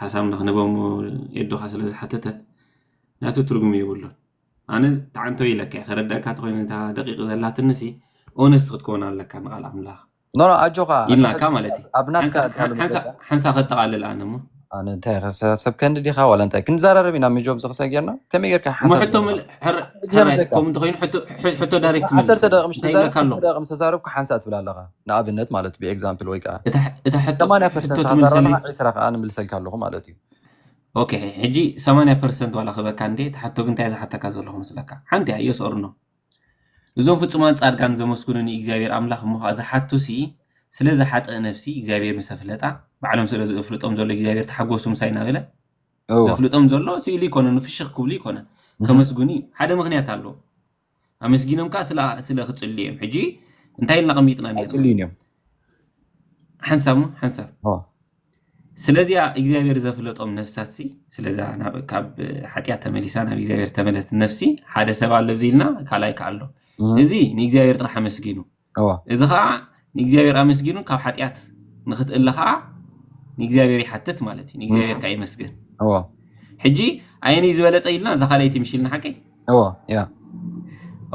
A: ሓሳብ ንክንህቦ እሞ ኤዱካ ስለ ዝሓተተት ናቱ ትርጉም የብሉን ኣነ ተዓንተው ኢለካ ከረደኣካ ተኮይነ እታ ደቂቅ ዘላትንሲ ኦነስት ክትከውን ኣለካ ንቃል ኣምላክ ኖኖ ኣጆካ
B: ኢልናካ ማለት እዩ
A: ኣብ ናትካ ኣዳሉ
B: ሓንሳ መገዳ ሓንሳ
A: ከተቃልል ኣነ እሞ ኣነ እንታይ ከሰ
B: ሰብ ከንዲ ዲካ ዋላ እንታይ ክንዘራረብ ኢና ምጆብ ዝክሰ ጌርና ከመይ ጌርካ እሞ ሓንሳብ ሕቶ ዘለካ ምል-
A: ሕር- ሕጂ ሕራይ ከምዘካ ከምኡ እንተኮይኑ ሕቶ ሕ- ሕቶ ዳይሬክት ዓሰርተ መልሰለይ ደቂቅ ምስ እንታይ ይብለካ
B: ተዛረብኩ ኣሎ ክልተ ደቂቅ ምስ ተዛረብኩ ሓንሳእ ትብል ኣለካ ንኣብነት ማለት ብ ኤግዛምፕል ወይ ከኣ። እታ ሕቶ ሰማንያ
A: ፐርሰንት ትምልሰለይ። ስሓብራና
B: ዕስራ ከኣ ንምልሰልካ ኣለኹ ማለት እዩ። ኦኬ
A: ሕጂ ሰማንያ ፐርሰንት ዋላ ክህበካ እንድየ እታ ሕቶ ግን እንታይ እየ ዝሓተካ ዘለኹ መስለካ ሓንቲ እያ Yes or No እዞም ፍጹማን ጻድቃን ዘመስግኑ ንኢግዚኣብሄር ኣምላኽ እሞ ከኣ ዝሓቱሲ ስለዛ ሓጥእ ነፍሲ እግዚኣብሄር ምሰ ፍለጣ ባዕሎም ስለ ዝእፍልጦም ዘሎ እግዚኣብሄር ተሓጎሱ ምሳይ ናበለ እወ ዘፍልጦም ዘሎ ስኢሉ ኣይኮነን ፍሽኽ ክብሉ ኣይኮነን ከመስግኑ እዩ ሓደ ምኽንያት ኣለዎ ኣመስጊኖም ከኣ ስለ ስለ ክጽልዩ እዮም ሕጂ እንታይ ኢልና ኣቐሚጥና ኔርና ኣይጽልዩን
B: እዮም
A: ሓንሳብ እሞ ሓንሳብ ኦ ስለዚኣ እግዚኣብሔር ዘፍለጦም ነፍሳትሲ ስለዛ ናብ ካብ ሓጢኣት ተመሊሳ ናብ እግዚኣብሔር ተመለስት ነፍሲ ሓደ ሰብ ኣለብዚ ኢልና ካልኣይ ከ ኣሎ እም። እዚ ንእግዚኣብሔር ጥራሕ ኣመስጊኑ እዚ ኸኣ ንእግዚኣብሔር ኣመስጊኑ ካብ ሓጢኣት ንኽትእለ ኸኣ ንእግዚኣብሔር ይሓትት ማለት እዩ ንእግዚኣብሔር ከኣ የመስግን ሕጂ ኣየንይ ዝበለጸ ኢልና እዛ ካልኣይቲ ምሽ ኢልና ሓቀይ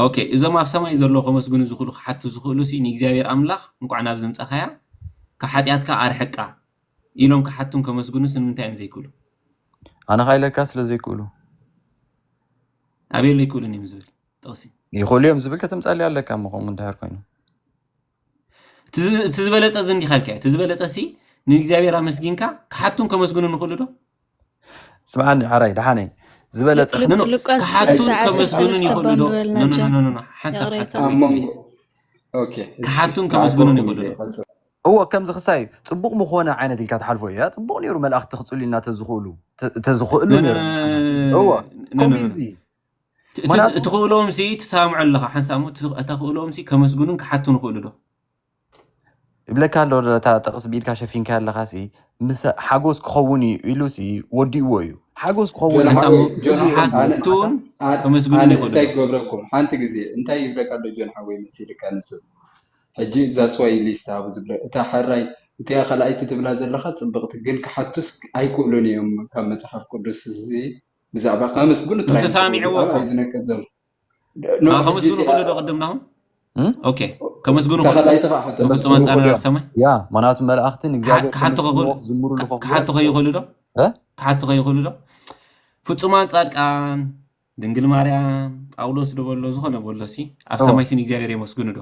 A: ኦኬ እዞም ኣብ ሰማይ ዘለዉ ከመስግኑ ዝኽእሉ ክሓቱ ዝኽእሉ ሲ ንእግዚኣብሔር ኣምላኽ እንቋዕ ናብዚ ምጻኻያ ካብ ሓጢኣትካ ኣርሕቃ ኢሎም ክሓቱን ከመስግኑስ ንምንታይ እዮም ዘይክእሉ ኣነ
B: ኸኣ ኢለካ ስለ ዘይክእሉ ኣበይ
A: ኣሎ ኣይክእሉን እዮም ዝብል ጥቕሲ ይኽእሉ እዮም ዝብል
B: ከተምጻልያ ኣለካ እሞ ከምኡ እንድሕር ኮይኑ እቲ
A: ዝበለፀ እዚ እንዲኻ ኢልካዮ እቲ ዝበለፀ ሲ ንእግዚኣብሔር ኣመስጊንካ ክሓቱን ከመስግኑ ንኽእሉ ዶ ስምዓኒ
B: ዓራይ ደሓነይ ዝበለፀ ክሓቱን
A: ከመስግኑን ይኽእሉ ዶ ሓንሳብ
D: ክሓቱን
A: ከመስግኑን ይኽእሉ ዶ እዎ ከምዚ
B: ክሳይ ፅቡቅ ምኮነ ዓይነት ኢልካ ትሓልፎ እያ ፅቡቅ ነይሩ መላእክቲ ክፅልዩልና ተዝኽእሉ ተዝኽእሉ ነይሩ እዎ ከምዚ
A: ትኽእሎምሲ ትሰማምዖ ኣለኻ ሓንሳብ እሞ ተኽእሎምሲ ከመስግኑን ክሓቱን ይኽእሉ ዶ?
B: ይብለካ ኣሎ ነታ ጥቕስ ብኢድካ ሸፊንካያ ኣለኻሲ ምስ ሓጎስ ክኸውን እዩ ኢሉሲ ወዲእዎ እዩ ሓጎስ ክኸውን እዩ ሓንሳብ እሞ ጆን ሓወይ፣ ኣነ-
A: ክሓቱን ኣነ- ከመስግኑን ኣነ ይኽእሉ እንታይ ዶ? ክገብረኩም ሓንቲ ግዜ
D: እንታይ ይብለካ ኣሎ ጆን ሓወይ መሲልካ ንሱ ሕጂ እዛ ስዋሂሊ ዝተሃቡ ዝብለ እታ ሕራይ እቲኣ ካልኣይቲ ትብላ ዘለኻ ጽብቕቲ ግን ክሓቱስ ኣይክእሉን እዮም ካብ መጽሓፍ ቅዱስ እዚ ብዛዕባ ከመስግኑ ጥራይ ተሰሚዕዎ እኮ
A: ዝነቅጽ
D: ዘሎ
A: ከመስግኑ ክእሉ ዶ ቅድም ናኹም ኦኬ ከመስግኑ ተፈጽሞ
D: ጻንራት ሰማይ
A: ያ ምክንያቱ መላእኽቲ
B: ንእግዚኣብሔር
A: ክሓቱ ከይኽእሉ ዶ ክሓቱ ከይኽእሉ ዶ ፍጹማን ጻድቃን ድንግል ማርያም ጳውሎስ ዶ በሎ ዝኾነ በሎ ሲ ኣብ ሰማይ ስን እግዚኣብሔር የመስግኑ ዶ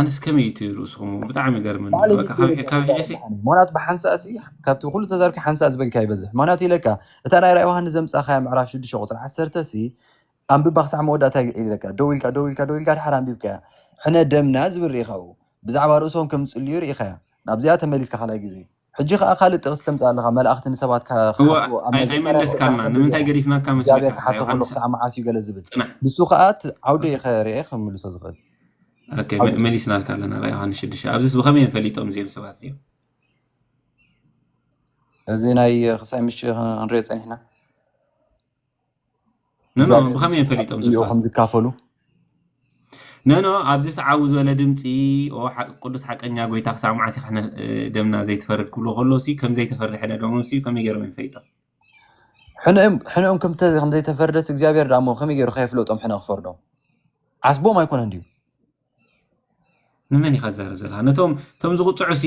A: ኣንስ ከመይ እቲ ርእስኹም ብጣዕሚ ይገርመኒ በቃ ካብ ካብ ሕጂ ምክንያቱ ብሓንሳእ ሲ
B: ካብቲ ኩሉ ተዛርኪ ሓንሳእ ዝበልካ ይበዝሕ ምክንያቱ ኢለካ እታ ናይ ራእይ ዮሃንስ ዘምጻኻያ ምዕራፍ ሽዱሽተ ቁጽሪ ዓሰርተ ሲ ኣንብባ ክሳዕ መወዳእታ ኢለካ ደው ኢልካ ደው ኢልካ ደው ኢልካ ድሓር ኣንቢብካያ ሕነ ደምና ዝብል ርኢኻ ኣብኡ ብዛዕባ ርእሶም ከም ዝጽልዩ ርኢኻያ ናብዚኣ ተመሊስካ ካልኣይ ግዜ ሕጂ ከኣ ካልእ ጥቅሲ ተምጽእ ኣለኻ መላእኽቲ ንሰባት
A: ክሓትዎ ኣብ
B: መዘከርያ ቁጽሪ ዓሰርተ ጌርካ እግዚኣብሔር ክሓቶ ከሎ
A: ክሳዕ መዓስ እዩ ገለ ዝብል ንሱ ከኣ እቲ ዓውዲ ኢኸ ርኤ ክምልሶ ዝኽእል እዚ
B: ናይ ክሳይ ምሽ ክንሪኦ ጸኒሕና።
A: ኖኖ እዛ ብኸመይ እዮም ፈሊጦም ዕዮ ዝፋ? ከም ዝካፈሉ ኖኖ ኣብዚ ሰዓቡ ዝበለ ድምጺ ኦ ሓ- ቅዱስ ሓቀኛ ጎይታ ክሳብ መዓስ ኢኻ ነ- እ፣ ደምና ዘይትፈርድ ክብሎ ከሎ ሲ ከም ዘይተፈርሐ ደሞም ሲ ከመይ ገይሮም እዮም ፈሊጦም? ሕነኦም
B: ሕነኦም ከም ተ- ከም ዘይተፈርደስ እግዚኣብሔር ደኣ እሞ ከመይ ገይሩ ከየፍለጦም ሕነ ክፈርዶም ዓስቦም ኣይኮነን ድዩ ንመን
A: ኢኻ ትዛረብ ዘለኻ? ነቶም እቶም ዝቕጽዑ ሲ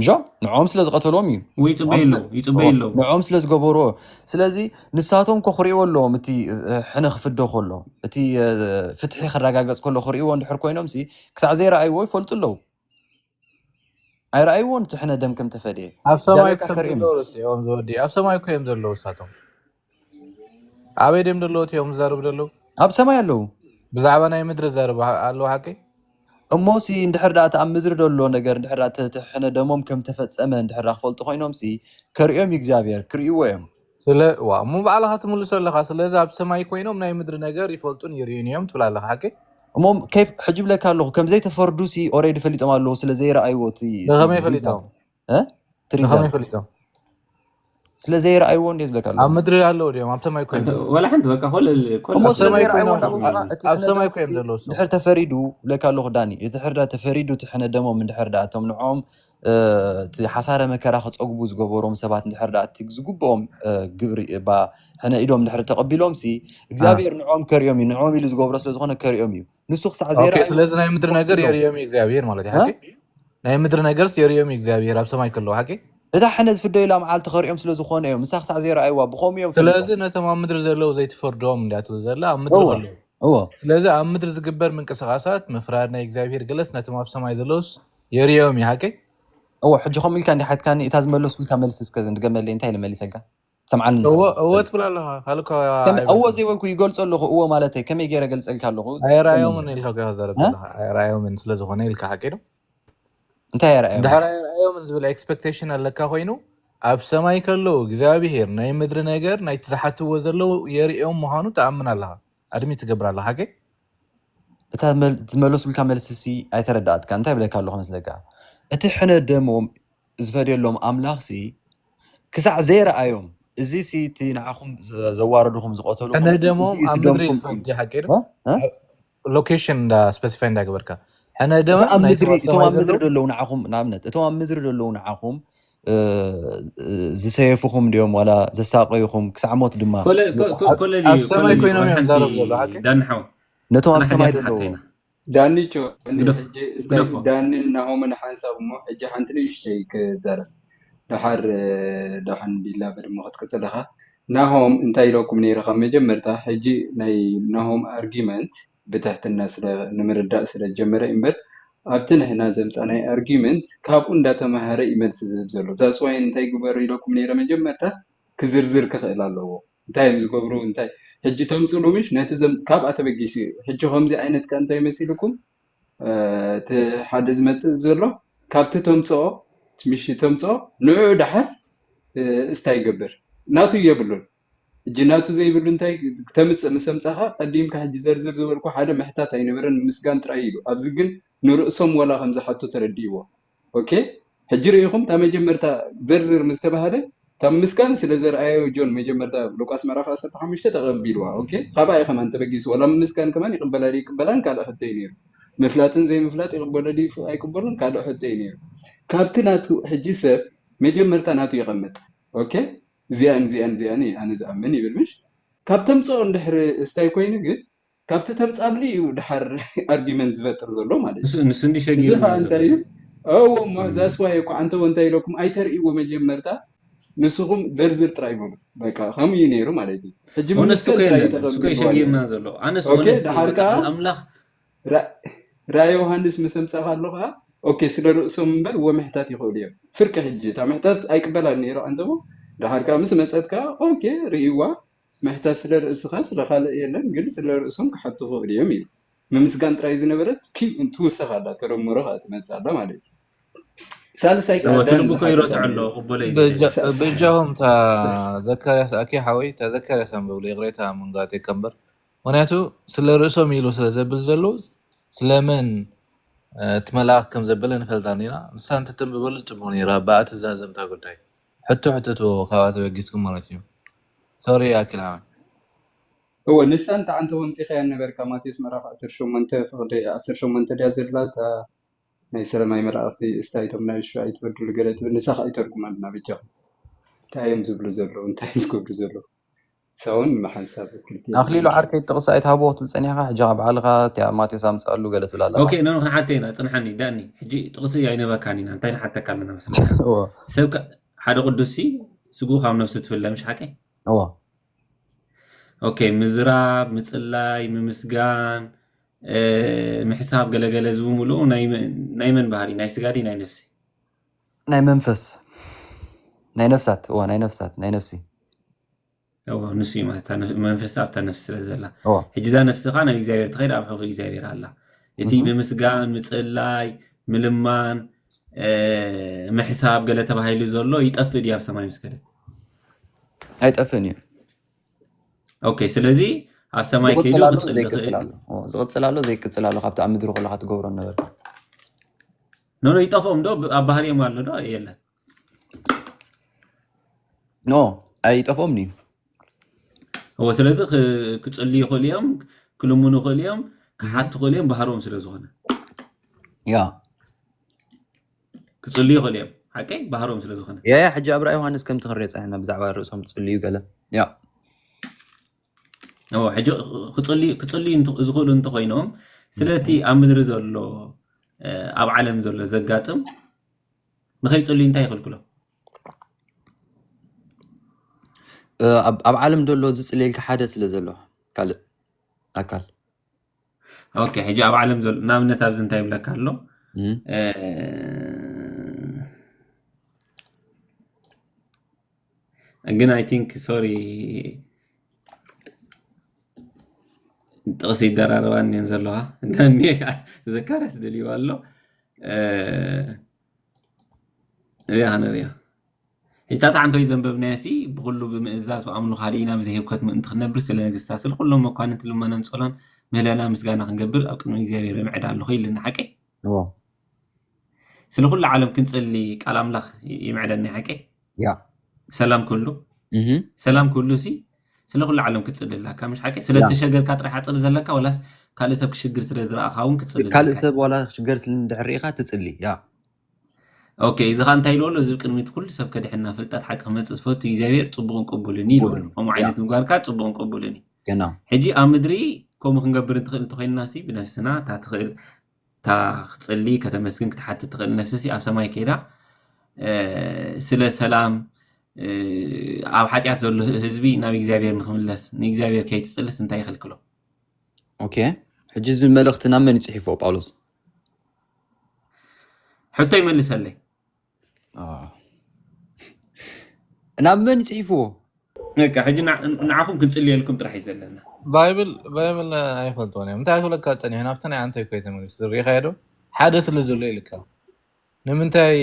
B: ምሾም ንዕኦም ስለ ዝቀተልዎም ኢዩ እው ይጽበዩ ንዕኦም ኣለዉ ይጽበዩ
A: እወ ኣለዉ ንዕኦም ስለ
B: ዝገበርዎ ኢዩ ስለዚ ንሳቶም ከኹርዕዎ ኣለዎም እቲ ሕነ ክፍደ ከሎ እቲ ፍትሒ ክራጋገጽ ከሎ ክርእይዎ እንድሕር ኮይኖምሲ ክሳዕ ዘይረኣይዎ ይፈልጡ ኣለዉ ኣይረኣይዎን እቲ ሕነ ደም ከም ተፈድየ ኣብ ሰማይ እግዚኣብሔር እኮ እዮም ካክርም
C: ዘለዉ ረሲዕዎም ዝወዲ ኣብ ሰማይ እኮ እዮም ዘለዉ ንሳቶም። ኣበይ ድዮም ደለዉ እቲኦም ዝዛረቡ ደለዉ? ኣብ ሰማይ ኣለዉ።
B: ብዛዕባ ናይ ምድሪ
C: ዝዛረቡ ኣለዉ ሓቀይ? እሞሲ
B: እንድሕር ደኣ እቲ ኣብ ምድሪ ደሎ ነገር እንድሕር ደኣ ተተሕሕነ ደሞም ከም እተፈጸመ እንድሕር ደኣ ክፈልጡ ኮይኖምሲ ከርእዮም እዩ እግዚኣብሄር፣ ክርእይዎ እዮም። ስለ ዋእ
C: እሞ ባዕልኻ ትምልሶ ኣለኻ ስለዚ ኣብ ሰማይ ኮይኖም ናይ ምድሪ ነገር ይፈልጡን ይርእዩን እዮም ትብል ኣለኻ ሓቀይ? እሞ ከይፍ
B: ሕጂ እብለካ ኣለኹ ከም ዘይተፈርዱሲ ኦሬዲ ፈሊጦም ኣለዉ ስለ ዘይረኣይዎ እቲ እቲ ብኸመይ ፈሊጦም? ትሪዛን
C: ፈሊጦም ስለ ዘይረኣይዎ እንዴ
B: ዝብለካ ኣለኹ። ኣብ ምድሪ ኣለዉ ድዮም ኣብ
C: ሰማይ ኮይኖም ወላ ሓንቲ በቃ ኮል
A: ኮል እሞ ኣብ ስለ ሰማይ
C: ዘይረኣይዎ ኮይኖም እንዳበልኩ ከኣ እቲ ኣብ ሕነ ሰማይ ደሞም ኮይኖም ዘለው እሶም ድሕር ተፈሪዱ
B: ብለካ ኣለኹ ዳኒ ድሕር ዳ ተፈሪዱ እቲ ሕነ ደሞም እንድሕር ደኣ እቶም ንዕኦም እ፣ እቲ ሓሳረ መከራ ክጸግቡ ዝገበሮም ሰባት እንድሕር ደኣ እቲ ዝግብኦም እ፣ ግብሪ እባ ሕነ ኢዶም ድሕሪ ተቐቢሎምሲ አ እግዚኣብሄር ንዕኦም ከርእዮም እዩ ንዕኦም ኢሉ ዝገብሮ ስለ ዝኾነ ከርእዮም እዩ ንሱ ክሳዕ ኦኬ ዘይረኣዩ ስለዚ ናይ ምድሪ ነገር
C: ክኸፍትሎም የርእዮም እዩ እግዚኣብሄር ማለት እዩ እ? ሓቂ ናይ ምድሪ ነገርስ የርእዮም እዩ እግዚኣብሄር ኣብ ሰማይ ከለዉ ሓቂ እታ ሕነ ዝፍደዩላ
B: መዓልቲ ኸርእዮም ስለ ዝኾነ እዮም ንሳ ክሳዕ ዘይረኣይዋ ብኸምኡ እዮም ፈሊጦም ስለዚ ነቶም ኣብ ምድሪ
C: ዘለዉ ዘይትፈርዶም እንድያ ትብል ዘላ ኣብ ምድሪ እወ ከለዉ እወ ስለዚ
B: ኣብ ምድሪ
C: ዝግበር ምንቅስቓሳት ምፍራድ ናይ እግዚኣብሄር ገለስ ነቶም ኣብ ሰማይ ዘለዉስ የርእዮም እዩ ሓቂ እወ ሕጂ
B: ከምኡ ኢልካ እንዲሓትካኒ እታ ዝመለስኩልካ መልሲ እስከ ድገመለይ እንታይ ኢለ መሊሰልካ ትሰምዓኒ ኣለኻ? እወ እወ በል። ትብል
C: ኣለኻ ካልእ እኳ ከመይ እወ ኣይበልኩን። ዘይበልኩ
B: ይገልጾ ኣለኹ እወ ማለተይ ከመይ ገይረ ገልጸልካ ኣለኹ ከመይ
C: ኣይረኣዮምን ገይረ? ኢልካ እኮ ኢኻ
B: ትዛረብ
C: እ? ዘለኻ ኣይረኣዮምን ስለ ዝኾነ ኢልካ ሓቂ ዶ? እንታይ
B: ኣይረኣዮምን? እንድሕር ኣይረኣዮምን ዝብል
C: ኤክስፐክቴሽን ኣለካ ኮይኑ ኣብ ሰማይ ከለዉ እግዚኣብሄር ናይ ምድሪ ነገር ናይቲ ዝሓትዎ ዘለዉ የርእዮም ምዃኑ ትኣምን ኣለኻ ኣድሚት ትገብር ኣለኻ ግን
B: እታ ዝመለሱልካ መልሲሲ ኣይተረድኣትካን እንታይ ይብለካ ኣለኹ መስለካ እቲ ሕነ ደሞም ዝፈድየሎም ኣምላኽሲ ክሳዕ ዘይረኣዮም እዚሲ እቲ ንዓኹም ዘዋረድኹም ዝቐተሉኹም ሕነ ደሞም ኣብ ምድሪ
C: ዝፈዲ ሓቂ ዶ ሎኬሽን እንዳ ስፐሲፋይ እንዳገበርካ ሕነ ደሞም እቶም ኣብ ምድሪ
B: ዘለዉ ንዓኹም ንኣብነት እቶም ኣብ ምድሪ ዘለዉ ንዓኹም ዝሰየፉኹም ድዮም ዋላ ዘሳቀዩኹም ክሳዕ ሞት ድማ ኣብ ሰማይ ኮይኖም
C: እዮም ዛረቡ ዘሎ ሓቂ
A: ነቶም ኣብ ሰማይ
B: ዘለዉ ዳኒቾ
D: ሕጂ እስታይ ዳንን ናሆምን ሓንሳብ እሞ ሕጂ ሓንቲ ንእሽተይ ክዛረብ ደሓር ዳሓን ቢላ በድመ ክትቅጽል ኢኻ ናሆም እንታይ ኢለኩም ነይረ ካብ መጀመርታ ሕጂ ናይ ናሆም ኣርጊመንት ብትሕትና ስለ ንምርዳእ ስለ ዝጀመረ እዩ እምበር ኣብቲ ንሕና ዘምጻናዮ argument ካብኡ እንዳ ተማሃረ እዩ መልሲ ዝህብ ዘሎ that's why እንታይ ግበሩ ኢለኩም ነይረ መጀመርታ ክዝርዝር ክኽእል ኣለዎ እንታይ እዮም ዝገብሩ እንታይ ሕጂ ተምጽሉ ምሽ ነቲ ዘም ካብኣ ተበጊሱ እዩ ሕጂ ከምዚ ዓይነት ከ እንታይ መሲልኩም እቲ ሓደ ዝመጽእ ዘሎ ካብቲ ተምጽኦ ምሽ ተምጽኦ ንዕኡ ደሓር እስታ ይገብር ናቱ የብሉን ሕጂ ናቱ ዘይብሉ እንታይ ክተምጽእ ምስ ኣምጻኻ ቀዲምካ ሕጂ ዘርዝር ዝበልኩ ሓደ ምሕታት ኣይነበረን ምምስጋን ጥራይ ኢሉ ኣብዚ ግን ንርእሶም ወላ ከም ዝሓቱ ተረዲእዎ ኦኬ ሕጂ ርኢኹም እታ መጀመርታ ዘርዝር ምስ ተባህለ እታ ምምስጋን ስለ ዘርኣዮ ጆን መጀመርታ ሉቃስ ምዕራፍ ዓሰርተ ሓሙሽተ ተቐቢልዋ ኦኬ ካብኣ እዩ ከማን ተበጊሱ ወላ ምምስጋን ከማን ይቕበላ ድዩ ይቅበላን ካልእ ሕቶ እዩ ነይሩ ምፍላጥን ዘይምፍላጥ ይቕበሎ ድዩ ኣይቅበሎን ካልእ ሕቶ እዩ ነይሩ ካብቲ ናቱ ሕጂ ሰብ መጀመርታ ናቱ ይቐምጥ ኦኬ እዚኣን እዚኣን እዚኣን እየ ኣነ ዝኣምን ይብል ምሽ ካብ ተምጽኦ እንድሕር እስታይ ኮይኑ ግን ካብቲ ተምጻሉ እዩ ድሓር ኣርጊመንት ዝፈጥር ዘሎ ማለት እዩ ንሱ እንዲ ሸጊሩ እዚ ከኣ
A: እንታይ እዩ
D: እዎ እሞ ዛስዋይ እኮ ኣንተ እንታይ ኢለኩም ኣይተርእይዎ መጀመርታ ንስኹም ዘርዝር ጥራይ በሉ በቃ ከምኡ እዩ ነይሩ ማለት እዩ ሕጂ ምምስከል ጥራይ
A: ተቐብልዎ ኣለኹ ኦኬ ድሓር ከኣ
D: ራእይ ዮውሃንስ ምስ ኣምጻእካ ኣሎ ከኣ ኦኬ ስለ ርእሶም እምበር ወምሕታት ይኽእሉ እዮም ፍርቂ ሕጂ እታ ምሕታት ኣይቅበላን ነይሩ ኣንተሞ ደሓር ከኣ ምስ መጸት ከኣ ኦኬ ርእይዋ ምሕታት ስለ ርእስኻ ስለ ካልእ የለን ግን ስለ ርእሶም ክሓቱ ይኽእሉ እዮም ኢሉ ምምስጋን ጥራይ ዝነበረት ኪም ትውሰኽ ኣላ ተደምሮ ከኣ ትመጽእ ኣላ ማለት እዩ ሳልሳይ ከኣ ዳን
A: ዝሓተታ በጃኹም
C: እታ ዘካርያስ ኣኪ ሓወይ እታ ዘካርያስ ኣንብብለይ ይቕሬታ ምንጋር ዘይከምበር ምክንያቱ ስለ ርእሶም ኢሉ ስለ ዘብል ዘሉ ስለ መን እቲ መልኣክ ከም ዘበለ ንፈልጥ ኣሎና ንሳ እንተ ተንብበሉ ጽቡቅ ነይሩ ኣባ ኣቲ ዛዘምታ ጉዳይ ሕቶ ሕተትዎ ካብኣ ተበጊስኩም ማለት እዩ ሶሪ ኣኪላመ።
D: እወ ንሳ እንተ ኣንተ ወምጺካያ ነበርካ ማቴዎስ ምዕራፍ ዓሰርተ ሸሞንተ ፍቅዲ ዓሰርተ ሸሞንተ ድያ ዘላ እታ ናይ ስረ ማይ መላእክቲ እስታይ እቶም ናይ ሹሻ ኣይትበድሉ ገለ ትብል ንሳ ከኣ ይተርጉመልና በጃኩም እንታይ እዮም ዝብሉ ዘለዉ እንታይ እዮም ዝገብሩ ዘለዉ ሰውን መሓንሳብ ክልተ ኣኽሊሉ ዓርከይ ጥቕሲ
B: ኣይትሃቦ ክትብል ጸኒሕካ ሕጂ ከኣ ባዕልኻ እቲኣ ማቴዎስ ኣምጽኣሉ ገለ ትብል ኣለኻ። ኦኬ ኖኖ ክንሓተይ ኢና
A: ጽንሓኒ ዳኒ ሕጂ ጥቕሲ ኣይነበካን ኢና እንታይ ንሓተካ ኣለና መስለካ እወ ሰብ ከ ሓደ ቅዱስሲ ስግኡ ካብ ነብሱ ትፍለ ምሽ ሓቀይ እወ ኦኬ ምዝራብ ምጽላይ ምምስጋን እ፣ ምሕሳብ ገለገለ እዚ ብምልኡ ናይ መ- ናይ መን ባህሪ ናይ ስጋ ድዩ ናይ ነፍሲ ናይ
B: መንፈስ ናይ ነፍሳት እወ ናይ ነፍሳት ናይ ነፍሲ እዎ
A: ንሱ እዩ ማለት መንፈስ ኣብታ ነፍሲ ስለ ዘላ እዎ ሕጂ እዛ ነፍሲ ከዓ ናብ እግዚኣብሔር ትኸይድ ኣብ ሕቑ እግዚኣብሔር ኣላ እቲ እህ፣ ምምስጋን ምጽላይ ምልማን እ፣ ምሕሳብ ገለ ተባሂሉ ዘሎ ይጠፍእ ድዩ ኣብ ሰማይ ምስ ከደት
B: ኣይጠፍእን እዩ ኦኬ
A: ስለዚ ኣብ ሰማይ ከይዱ ዝቕጽል ኣሎ ክጽሊ ዘይቅጽል ይኽእል ኣሎ እዎ
B: ዝቕጽል ኣሎ ዘይቅጽል ኣሎ ካብቲ ኣብ ምድሪ ከለካ ትገብሮ ነበርካ
A: ኖኖ ይጠፍኦም ዶ ብ- ኣብ ባህሪኦም ኣሎ ዶ የለን
B: ኖ ኣይጠፍኦምን እዩ
A: እወ ስለዚ ክ- ክጽልዩ ይኽእሉ እዮም ክልምኑ ይኽእሉ እዮም ክሓቱ ይኽእሉ እዮም ባህሮም ስለ ዝኾነ
B: ያ
A: ክጽልዩ ይኽእሉ እዮም ሓቀይ ባህሮም ስለ ዝኾነ ያ ያ ሕጂ ኣብ ራእይ ዮሃንስ
B: ከምቲ ክንሪኦ ጸኒሕና ብዛዕባ ርእሶም ትጽልዩ ገለ ያ
A: እወ ሕጂ ክጽልዩ ክጽልዩ እንተ- ዝኽእሉ እንተኾይኖም ስለቲ ኣብ ምድሪ ዘሎ እ፣ ኣብ ዓለም ዘሎ ዘጋጥም ንኸይጽልዩ እንታይ ይኽልክሎ?
B: ኣብ ዓለም ዘሎ ዝጽልየልካ ሓደ ስለ ዘሎ ካልእ ኣካል
A: ኦኬ ሕጂ ኣብ ዓለም ዘሎ ንኣብነት ኣብዚ እንታይ ይብለካ ኣሎ ግን ኣይ ቲንክ ሶሪ ጥቕሲ ይደራረባ እኒአን ዘለዋ እንተኒ ዘካርያስ ደልይዋ ኣሎ እዚኣ ክንሪኦ ሕጅታ ተዓንተዊ ዘንበብናዮ ሲ ብኩሉ ብምእዛዝ ብኣምኑ ካልእና ብዘይህብከት ምእንቲ ክነብር ስለ ነገስታት ስለ ኩሎም መኳንንቲ ልመናን ጸሎን ምህለላ ምስጋና ክንገብር ኣብ ቅድሚ እግዚኣብሔር ምዕድ ኣለኹ ይልና ሓቂ ስለ ኩሉ ዓለም ክንጸሊ ቃል ኣምላኽ ይምዕደኒ ሓቂ ያ
B: ሰላም ኩሉ
A: ሰላም ኩሉ ሲ ስለ ኩሉ ዓለም ክትጽሊ ኣለካ ምሽ ሓቂ ስለ ዝተሸገርካ ጥራሕ ኣጽሊ ዘለካ ወላስ ካልእ ሰብ ክሽግር ስለ ዝረኣኻ እውን ክትጽሊ ካልእ ሰብ ዋላ ክሽገር
B: ስለ እንድሕር ርኢኻ ትጽሊ ያ
A: ኦኬ እዚ ኸ እንታይ ኢልዎ ኣሎ እዚ ቅድሚት ኩሉ ሰብ ከድሕና ፍልጠት ሓቂ ክመፅእ ዝፈቱ እግዚኣብሔር ፅቡቕን ቅቡልን እዩ ኢልዎ ከምኡ ዓይነት ምግባርካ ፅቡቕን ቅቡልን እዩ ሕጂ
B: ኣብ ምድሪ
A: ከምኡ ክንገብር እንትኽእል እንተኮይንና ሲ ብነፍስና እታ ትኽእል እታ ክትጽሊ ከተመስግን ክትሓትት ትኽእል ነፍሲሲ ኣብ ሰማይ ከይዳ ስለ ሰላም ኣብ ሓጢኣት ዘሎ ህዝቢ ናብ እግዚኣብሔር ንክምለስ ንእግዚኣብሔር ከይትጽልስ እንታይ ይኽልክሎ? ኦኬ
B: ሕጂ እዚ መልእኽቲ ናብ መን ይጽሒፎ ጳውሎስ?
A: ሕቶ ይመልሰለይ።
B: ናብ መን ጽሒፍዎ በቃ ሕጂ
A: ንዓኹም ክንጽልየልኩም ጥራሕ እዩ ዘለና ባይብል
C: ባይብል ኣይፈልጥዎን እዮም እንታይ ክብለካ ጸኒሑ ናብቲ ናይ ኣንተ ኮይ ተመሊሱ ዝርኢኻዮ ዶ ሓደ ስለ ዘሎ ኢልካ ንምንታይ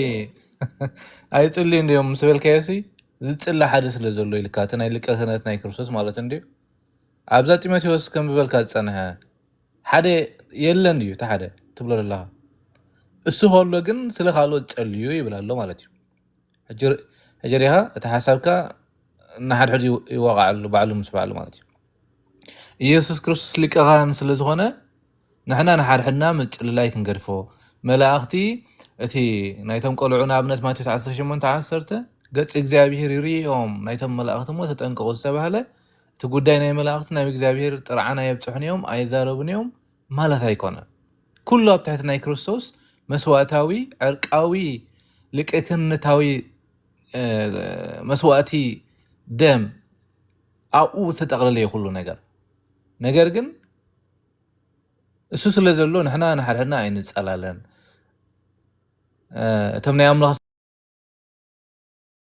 C: ኣይጽልዩ እንዲዮም ምስ በልካዮ ሲ ዝጽሊ ሓደ ስለ ዘሎ ኢልካ እቲ ናይ ሊቀ ክህነት ናይ ክርስቶስ ማለት እንዲዩ ኣብዛ ጢሞቴዎስ ከንብበልካ ዝጸንሐ ሓደ የለን እዩ እቲ ሓደ ትብሎ ዘለኻ እሱ ከሎ ግን ስለ ካልኦት ጸልዩ ይብል ኣሎ ማለት እዩ ሕጂ ሕጂ ሪኻ እቲ ሓሳብካ ንሓድሕዱ ይዋቃዓሉ ባዕሉ ምስ ባዕሉ ማለት እዩ ኢየሱስ ክርስቶስ ሊቀ ካህን ስለ ዝኾነ ንሕና ንሓድሕድና ምጽልላይ ክንገድፎ መላእኽቲ እቲ ናይቶም ቆልዑ ንኣብነት ማቴዎስ 18 10 ገጽ እግዚኣብሔር ይርእዮም ናይቶም መላእኽቲ እሞ ተጠንቀቑ ዝተባህለ እቲ ጉዳይ ናይ መላእኽቲ ናብ እግዚኣብሔር ጥርዓን ኣየብጽሑን እዮም፣ ኣይዛረቡን እዮም፣ ማለት ኣይኮነን። ኩሉ ኣብ ትሕቲ ናይ ክርስቶስ መስዋእታዊ ዕርቃዊ ሊቀ ክህንነታዊ መስዋእቲ ደም ኣብኡ ዝተጠቕለለ እዩ ኩሉ ነገር። ነገር ግን እሱ ስለ ዘሎ ንሕና ንሓድሕድና ኣይንጸላለን። እቶም ናይ ኣምላኽ